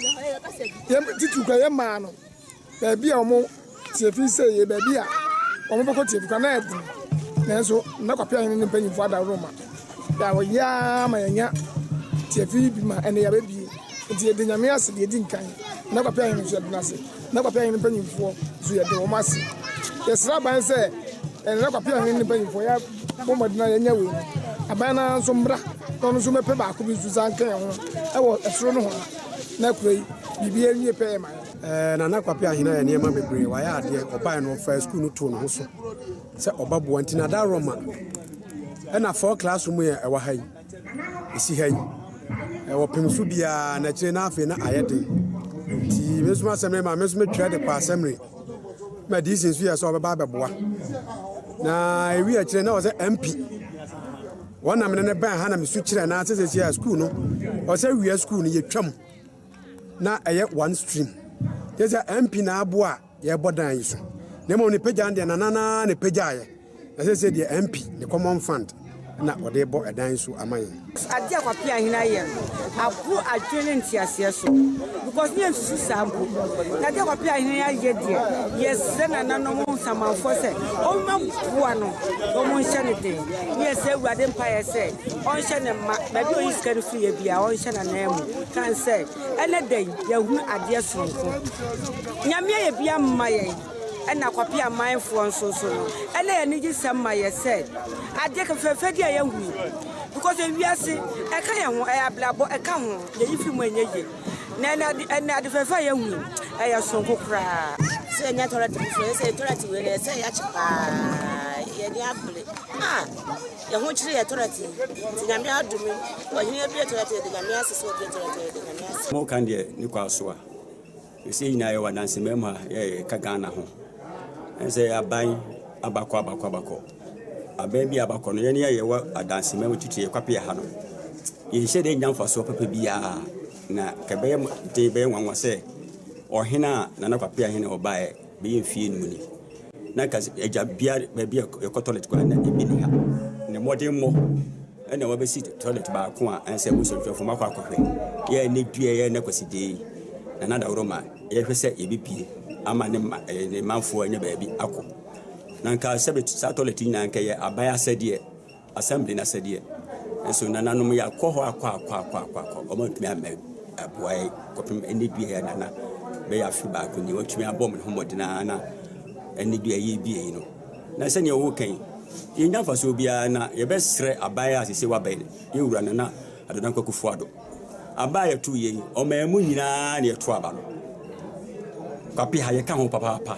Yɛn titiriw koraa yɛn maa no baabi a wɔn tiafi sɛ yɛ baabi a wɔn bɛkɔ tiafi koraa na ɛden. Nanso Nana Kwapea Ahene ne mpanyinfoɔ adaworo ma yɛ wɔyɛ ara ma yɛnya tiafi bi ma ɛnɛ yɛabɛbie. Nti yɛda Nyame ase deɛ ɛdi nkan. Nana Kwapea Ahene nso yɛda no ase. Na Kwapea Hene mpanyimfoɔ nso yɛde wɔn ase. Yɛsrɛ aban sɛ ɛne na Kwapea Hene ne mpanyimfoɔ yɛ bɔ mmɔden na yɛnyɛ wei no. Aban no ara nso mmra na ɔno nso mmɛpɛ baako bi nso san nka yɛn ho ɛwɔ ɛsoro nohoa na akura yi biribi ɛnwie pɛyɛ ma yɛn. Ɛɛ Nana Kwapea Hene ayɛ nneɛma bebree. Wayɛ adeɛ. Ɔbaeɛ no ɔfaa sukuu no too ne ho so sɛ ɔba boa nti na da Roma ɛna four classroom yɛ ɛwɔ ha yi. ɛsi ha yi ɛwɔ pem so biara na akyire na afei na ayɛ den nti me nso asɛmre ma me nso metwerɛ de kɔ asɛmre ma dc nso yɛ sɛ ɔbɛba abɛboa na ɛwi akyire na ɔsɛ mp wɔn nam ne ne bɛn ha na me su kyerɛ na asɛsɛ si a sukuu no ɔsɛ wia sukuu no yɛtwam na ɛyɛ one stream yɛ sɛ mp na aboa yɛrebɔ dan yi so na mmom ne pagya no deɛ nanana na ɛpagyaeɛ na sɛ sɛ deɛ MP ne common fund na ɔde bɔ ɛdan yi so ama yɛn. Adeɛ a Kwapea Ahene ayɛ no aboro adwene ne nteaseɛ so because ne yɛnsusu saa mpo. Na adeɛ a Kwapea Ahene ayɛ deɛ yɛsrɛ nananom nsamanfoɔ sɛ wɔmma boa no wɔnhyɛ no den ne yɛsɛ Awurade mpaeɛ sɛ ɔnhyɛ ne mma baabi a ɔyi sika no firi yɛ biara ɔnhyɛ n'ananmu kan sɛ Ɛnɛ da yi, yɛahunu adeɛ sononko. Nyame ayɛ bi ama yɛn, ɛna Kwapea amanfoɔ nso so no, ɛna yɛn anigye sɛm ma yɛ sɛ, adeɛ fɛfɛɛfɛ bi a yɛahunu yi, because ewiase, ɛka yɛn ho, ɛyɛ abrabɔ, ɛka ho, yɛyi firi mu a ɛnyɛ yie. Na ɛnɛ ade, ɛnɛ ade fɛfɛɛfɛ a yɛahunu yi, ɛyɛ sononko koraa. Sɛ yɛnya toilet foforɔ, yɛsɛ toilet wei no, ɛsɛ sɛ yɛakye paa, yɛn ani abere, ah! Yɛ ho kyere yɛ tɔrɛtee nti Nyame adome wo Ɔhene abue tɔrɛtee de Nyame ase sɛ obue tɔrɛtee de Nyame ase. Mo kan deɛ ne kɔ aso a. Sɛsɛ yɛ nyinaa yɛ wɔ adanse mma mu a yɛ ka Ghana ho. Ɛne sɛ aban aba kɔ aba kɔ aba kɔ. Aban bi a aba kɔ no yɛ ne yɛ yɛ wɔ adanse mma mu titire yɛ kwape yɛ ha no. Yɛ nhyɛ da nya mfasoɔ papa biara na kɛ bɛyɛ den bɛyɛ nwanwa sɛ Ɔhene a Nana Kwape Ahene ɔbaeɛ Bɛyɛ mfeɛ nnum ni na nka agya bia baabi a yɛkɔ toilet koraa na ebi ni ha. Na mmɔdenmmɔ na wɔbɛsi toilet baako a ɛnsɛ abosomtwɛfo makɔ akɔhwɛ. Yɛ ne dua yɛ ne kwasi dee na na daworo ma yɛhwɛ sɛ yɛbɛpie ama ne ma eh, ne manfoɔ anya baabi akɔ. Na nka sɛ saa toilet nyinaa nka yɛ aban asɛdeɛ Assembly no asɛdeɛ. Nanso nananom yi akɔ hɔ akɔ akɔ akɔ akɔ akɔ, wɔantumi ammɛ aboa yɛn kɔpem ɛnɛ dua yɛ nana bɛyɛ afe baako ni. Wɔatumi abɔ wɔn ho mmɔden ara na ɛnɛ dua yɛ bie yi no. Na sɛdeɛ wɔka yi, yɛnya mfasoɔ biara na yɛbɛsrɛ aban a sese wabɛn yɛn wura Nana Addo Dankwa Akufo-Addo. Aba a yɛto yɛ yi, ɔman mu nyinaa na yɛto aba no. Kwapeha yɛka ho papaapa.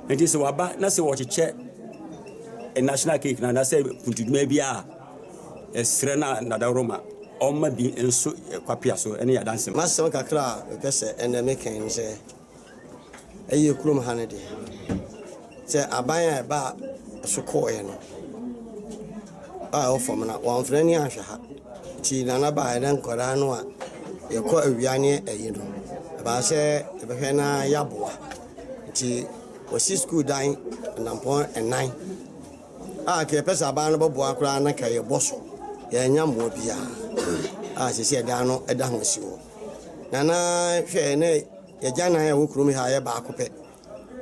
Nti sɛ waba na sɛ wɔkyekyɛ national cake no anaasɛ puntudwuma bi a ɛsrɛ na nadaworo ma ɔma bi nso kwapea so ne yɛadanse ma. Masɛm kakra a mepɛ sɛ ɛnɛ meka ne sɛ ɛyɛ kurom ha no deɛ sɛ aban a ɛba so kɔɔeɛ no a ɛwɔ fam no wɔamfrɛ ne anhwɛ ha nti nana baa ɛnɛ nkwadaa no a yɛkɔ awia ne ayi no ɛbaa sɛ yɛbɛhwɛ na yɛaboa Ntsi wɔsi skuul dan anampɔn anan a nka yɛpɛ sɛ aban no bɔboa koraa na nka yɛbɔ so. Yɛannya mboa biara a sesei dan no da ho si hɔ. Na na hwɛ na yɛgyanan a ɛwɔ kurom ha yɛ baako pɛ.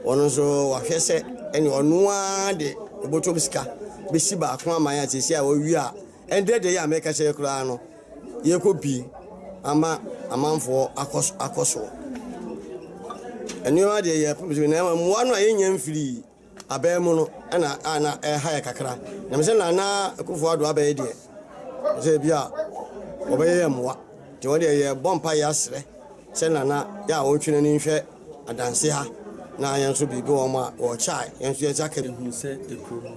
Ɔno so wɔahwɛ sɛ ɛne ɔno ara de obotum sika besi baako aman a sesei a oewie a Ɛnde de yi a meka kyerɛ koraa no yɛkɔ bi ama amanfoɔ akɔ akɔ so. Nneɛma deɛ yɛpem so na mmoa no a yɛnya mfiri abɛn mu no ɛna a na ɛha yɛ kakra. Na mesɛ na na Akufo Addo abɛyɛ deɛ sɛ bi a wɔbɛyɛ yɛ mmoa. Nti wɔn deɛ yɛbɔ mpa yɛ asrɛ sɛ na na yɛ a wɔntwe n'ani nhwɛ adanse ha na yɛn nso biribi wɔn a wɔkyae yɛn nso yɛn nsa ka bi. Yɛhunu sɛ ekuro no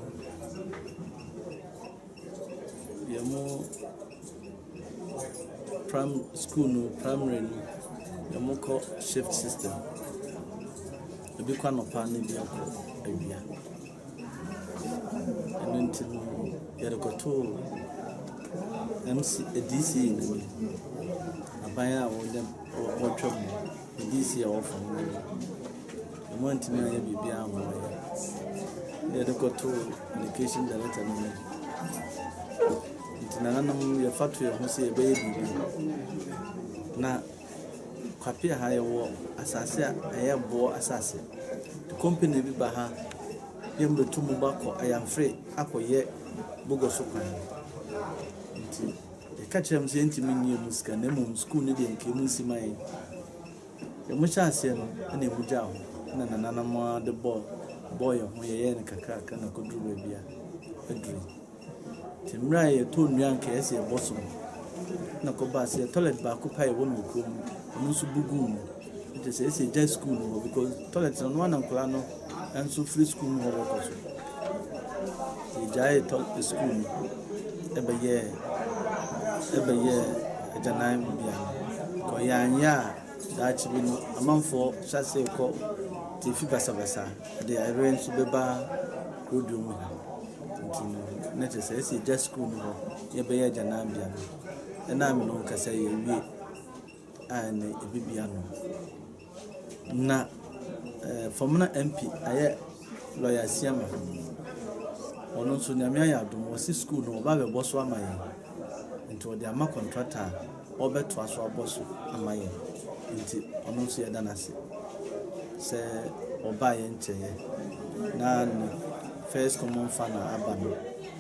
Deɛ mo prim school no primary no deɛ mo kɔ shift system ebi kɔ anɔpa na ebi akɔ awia ɛno nti no yɛde kɔtoo MC DCE no mu aban a wɔde wɔtwa mu. BBC a wɔfa ho no de, wɔn antumi anyɛ biribiara amma wɔn. Na yɛde kɔtoo location director no mu. Nti nananom yɛfa to yɛn ho sɛ yɛbɛyɛ biribi. Na kwape ha yɛwɔ asase a ɛyɛ boɔ asase. Company bi ba ha, yɛn bɛtu mu bakɔ ayamfre akɔyɛ bogɔso kwan. Nti. Yɛka kyerɛɛ wɔn sɛ yɛrentumi nnye emu sika na mmom sukuu no deɛ nka emu nsi ma yɛn. Deɛ wɔhyɛɛ aseɛ no na emu gyaa hɔ na nananom ara de bɔɔ bɔɔ yɛn ho yɛyɛɛ no kakrakra na ɛkɔduruu baabi a aduru yi. Nti mmerɛ a yɛtɔɔ nnua a nka ɛyɛ sɛ yɛbɔ so no na ɛkɔbaa sɛ toilet baako pɛ a ɛwɔ Nokrom no, ɛno nso bu guu mu. Nti sɛ esi gya sukuu no hɔ because toilet no noa na nkwadaa no nso firi sukuu mu hɔ bɛkɔ so. Nti yɛgyaee tɔ sukuu no ɛbɛyɛɛ ɛbɛyɛɛ agyanan bea. Kɔ yɛanyɛ a daakye bi no amanfoɔ hyɛ ase kɔ te fi basabasa ɛde ayerɛ nso bɛba rodeo mu ha. Nti no na kyerɛ sɛ esi gya sukuu no hɔ yɛbɛyɛ agyanan bea no ɛnam no kasa yɛwie. a na ebebi ano. Na eh, Fɔmena MP ayɛ lɔya Asiama. Ɔno nso nyame ayɛ adom, wɔsi skuul no wɔba abɛbɔ so ama yɛn. Nti wɔde ama kɔntrata a ɔbɛtoa so abɔ so ama yɛn. Nti ɔno nso yɛda no ase sɛ ɔbaa yɛn nkyɛeɛ na ne first common fa na aba no.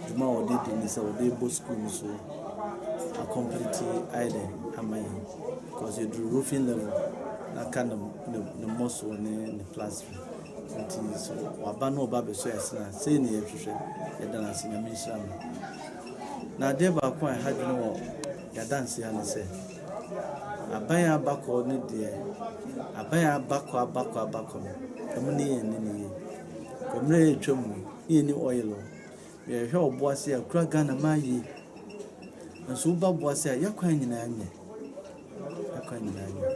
dwuma a wɔde di ne sɛ wɔde bɔ sukuu no so a complete ayɛ dɛ ama yɛn because yɛduru roofing level na aka ne ne mmɔsoɔ ne ne plastering nti so waba na ɔba abɛsɔ yɛn sena sei na yɛhwehwɛ yɛda no ase nyame nhyira no na adeɛ baako a ɛha dwene wɔ yɛadanse ha ne sɛ aban abakɔ ne deɛ aban abakɔ abakɔ abakɔ no ɛmu ne yɛn ne ne yie mmerɛ yɛtwa mu ne yɛn ni oil o Yɛhwɛ wɔ Boase a, kura Ghana maa yie. Nanso woba Boase a, yɛ kwan nyinaa nyɛ. Yɛ kwan nyinaa nyɛ.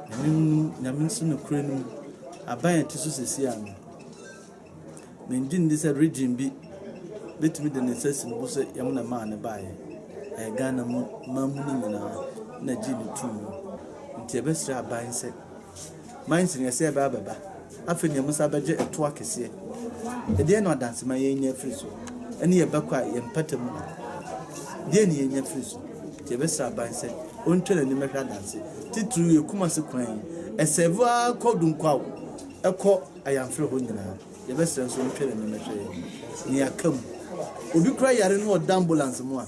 Nyame mu, nyame nso no kura no mu. Aban a ɛte so sisi ano. Mengye ndi sɛ region bi betumi de ne nsa si ne bo sɛ yɛn na maa ne baeɛ. Ɛyɛ Ghana mu, man mu no nyinaa na gye ne tum. Nti yɛbɛsrɛ aban sɛ ma nsineɛseɛ bɛ abɛba. Afei neɛ mosan bɛgye ɛtoɔ akɛseɛ. Ɛdeɛn na ɔdansema yɛn nya firi so? Ɛne yɛn bɛkɔ a yɛn mpata mu no, deɛn ne yɛnya firi so? Nti yɛbɛsrɛ aban sɛ ɔntwa n'ani mɛhwɛ adanse titiriw yɛ Kumasi kwan yi. Ɛsɛɛve ara kɔ Dunkwaw, ɛkɔ Ayamfrɛ hɔ nyinaa. Yɛbɛsrɛ nso ɔntwa n'ani mɛhwɛ yɛn, neɛ aka mu. Obi kora yare no ɔda ambulance mu a,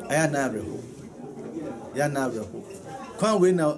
ɛyɛ anaa awerɛho. Ɛyɛ anaa awerɛho. Kwan wei na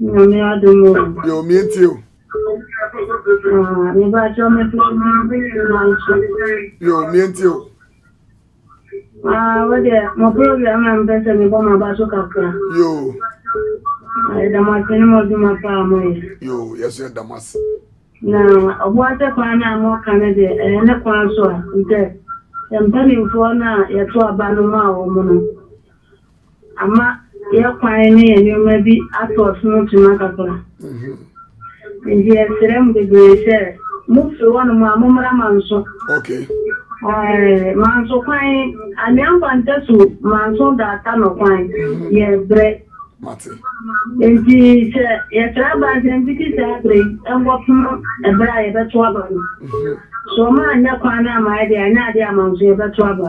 Nyame adom o. Yɛ o mie ntie o. Ah, me ba kyerɛ me fi manso. Yɛ o mie ntie o. Ah, wo deɛ mo program na mpɛ sɛ me bɔ ma ba so kakra. Yɛ o. Ah, yɛ dam ase ne mo adwuma paa mo yɛ. Yɛ o, yɛ so yɛ dam ase. Na ɔbo ase kwan na mo ka ne deɛ ɛyɛ ne kwan so a ntɛ yɛ mpanimfoɔ na yɛto aba no ma wɔn no. ama yɛn kwan ne yɛn nneɛma bi ato ɔsono kyima kakra. Nti yɛsrɛ mo bebree sɛ mofiri hɔnom a mommra Manso. Okay. Eh, Manso kwan, Anwea Nkwanta su Manso Daata no kwan mm-hmm. yɛ brɛ. Mate. Nti sɛ yɛtra aba nsɛm titi saa berɛ yi nkɔpem ɛberɛ a yɛbɛto aba no. Mm-hmm. So ɔma anyɛ kwan no ama yɛde anyɛ adeɛ a Manso yɛbɛto aba.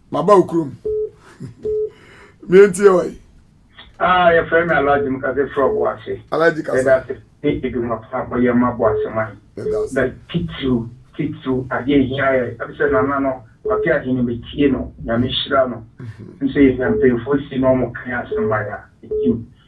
Maba wo kurom. Me ntie ɔe. Ah yɛfrɛ me Alhaji Mkase frɔ Boase. Alhaji Kase. Yɛda ase ne adwuma pa a moyɛ ma Boase man. Yɛda ase. Na titiriw titiriw adeɛ a ɛhia yɛ ɛne sɛ Nana no ɔte ahene metie no Nyame nhyira no. Ɛne sɛ yɛnya mpanyinfoɔ si na wɔn ka yɛn asɛm ma yɛn a ɛgye mu.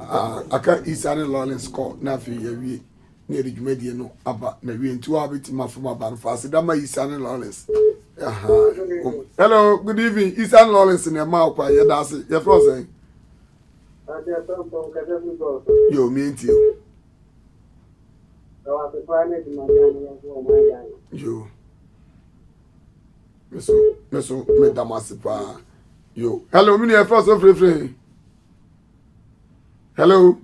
Ah, aka Isa ne Lawrence kɔ na afei yɛawie na yɛde dwumadie no aba na wie nti wa bɛtumi afom aba no fa aseda ma Isa ne Lawrence hello good evening Isa ne Lawrence na ɛma ɔkwa yɛda ase yɛfrɛ sɛn yɛ omie nti yo Me so me so me da mo ase paa. Yo. Hello, me nua fɛ so firifiri. Hello.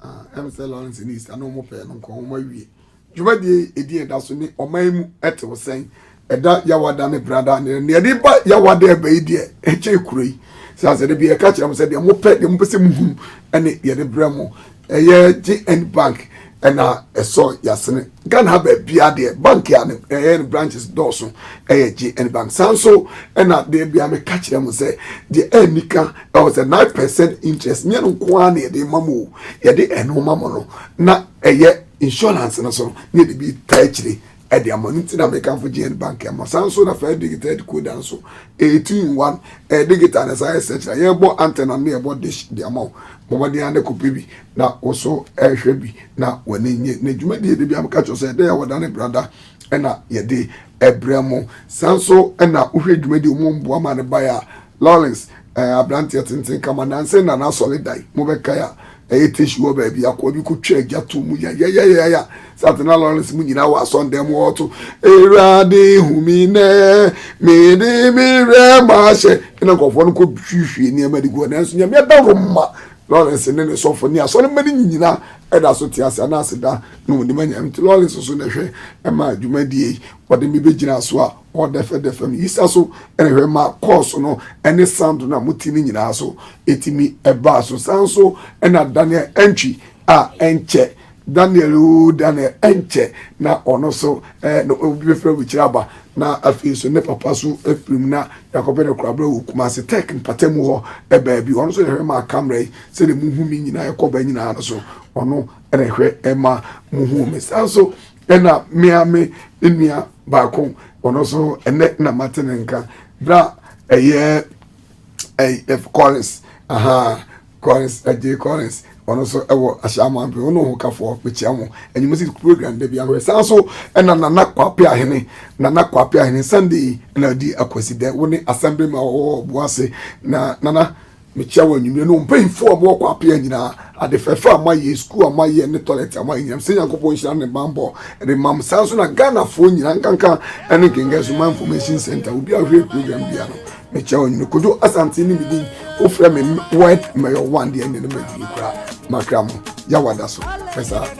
Ah, ɛm sɛ Lawrence ni sika na wɔn pɛɛ no nkɔn wɔn awie. Dwumadie edi ɛda so ne ɔman mu ɛte wɔ sɛn. Ɛda yawada ne brada ne ne ɛde ba yawada ɛbɛ yi deɛ ɛkyɛ ekuro yi. Sɛ asɛ de bi ɛka kyerɛ mo sɛ deɛ mo pɛ deɛ mo pɛ sɛ mo hu ɛne deɛ de brɛ mo. Ɛyɛ JN bank ɛna ɛsɔ yasene Ghana ha baabia deɛ bank a ɛyɛ ne branches dɔɔso ɛyɛ JN bank saa nso ɛna deɛ bia meka kyerɛ mo sɛ deɛ ɛni ka ɛwɔ sɛ 9 percent interest nyɛ no nko ara na yɛde ma mo o yɛde ɛno ma mo no na ɛyɛ insurance no so na yɛde bi taa akyire de ama no nti na mekamfo GN Bank ɛma saa nso na First Digital decoder nso ɛyɛ two in one ɛyɛ digital na saa yɛ search na yɛbɔ antenna ne yɛbɔ dish de ama wo bɔbɔden ane kɔpɛ bi na wo so ɛhwɛ bi na w'ani nye na dwumadie de bia meka kyerɛ sɛ ɛdɛ yɛ wɔda ne brada ɛna yɛde ɛbrɛ mo saa nso ɛna wohwɛ dwumadie mu mboa ma ne baeɛ a Lawrence, ɛɛ, aberanteɛ tenten kama, nnansa yi na n'asɔre dan mu bɛkae a ɛyɛ tissue wɔ baabi. Akoa bi kɔtwaa gya too mu yayayayaya. Saa te na Lawrence mu nyinaa wɔ asɔredan mu ɔɔto, Awurade hu me nnɛ, mede me werɛ mahyɛ. Ɛna nkurɔfoɔ no kɔhwiehwie nneɛma de gu hɔ. Nanso Nyame adaworo ma Lawrence ne ne sɔfo ne asɔremma no nyinaa da so te ase, anaa aseda, na wɔde ma Nyame. Nti Lawrence so na ɛhwɛ ɛma dwumadie yi, wɔde me bɛgyinaa so a, Ɔdɛfɛdɛfɛ no, Yisa so hwɛ ma kɔɔso no ne sando no a mote no nyinaa so tumi baa so. Saa nso na Daniel antwi a ɛnkyɛ. Daniel oo, Daniel ɛnkyɛ na ɔno nso ɛɛ na obi bɛfiri aburukyiri aba na afei nso ne papa so afiri mu na yakɔbɛ ne korabra wɔ Kumasi Tech mpata mu hɔ baabi. Ɔno nso na ɛhwɛ maa kamera yi sɛdeɛ muhu me nyinaa ɛkɔ ba nyinaa no so ɔno na ɛhwɛ ma muhu me. Saa nso ɛna mmea me nnua baako ɔno nso ɛnɛ na mate ne nka bra ɛyɛ ɛyɛ kɔrins aha kɔrins ɛgye kɔrins ɔno nso ɛwɔ ahyɛnma bi ɔno ho kafoɔ mekyia mo ɛnyɛmɛ si program de bi ahorɛ san so ɛna nana kwape ahene nana kwape ahene sunday ɛna di akwasi dɛ wɔne asɛmbre ma ɔwɔ ɔbo ase na nana. Mekyia wɔn anwummere no, mpanyimfo a wɔwɔ Kwapea nyinaa. Ade fɛfɛ a moayɛ, sukuu a moayɛ ne tɔlɛt a moayɛ nyinaa, mesrɛ Nyankopɔn nhyira ne ne bammɔ de mma mo. Saa nso na Ghanafoɔ nyinaa, nkanka ne Nkenke Soma Information Centre, obiara a ɔhwɛ program biara no, mekyia wɔn anwummere. Kojo Asante ne me din. Wofrɛ me Ward Mayor One deɛ, ɛnneɛ na madi ni koraa. M'akra mu, Yaw ada so. Hwɛ saa.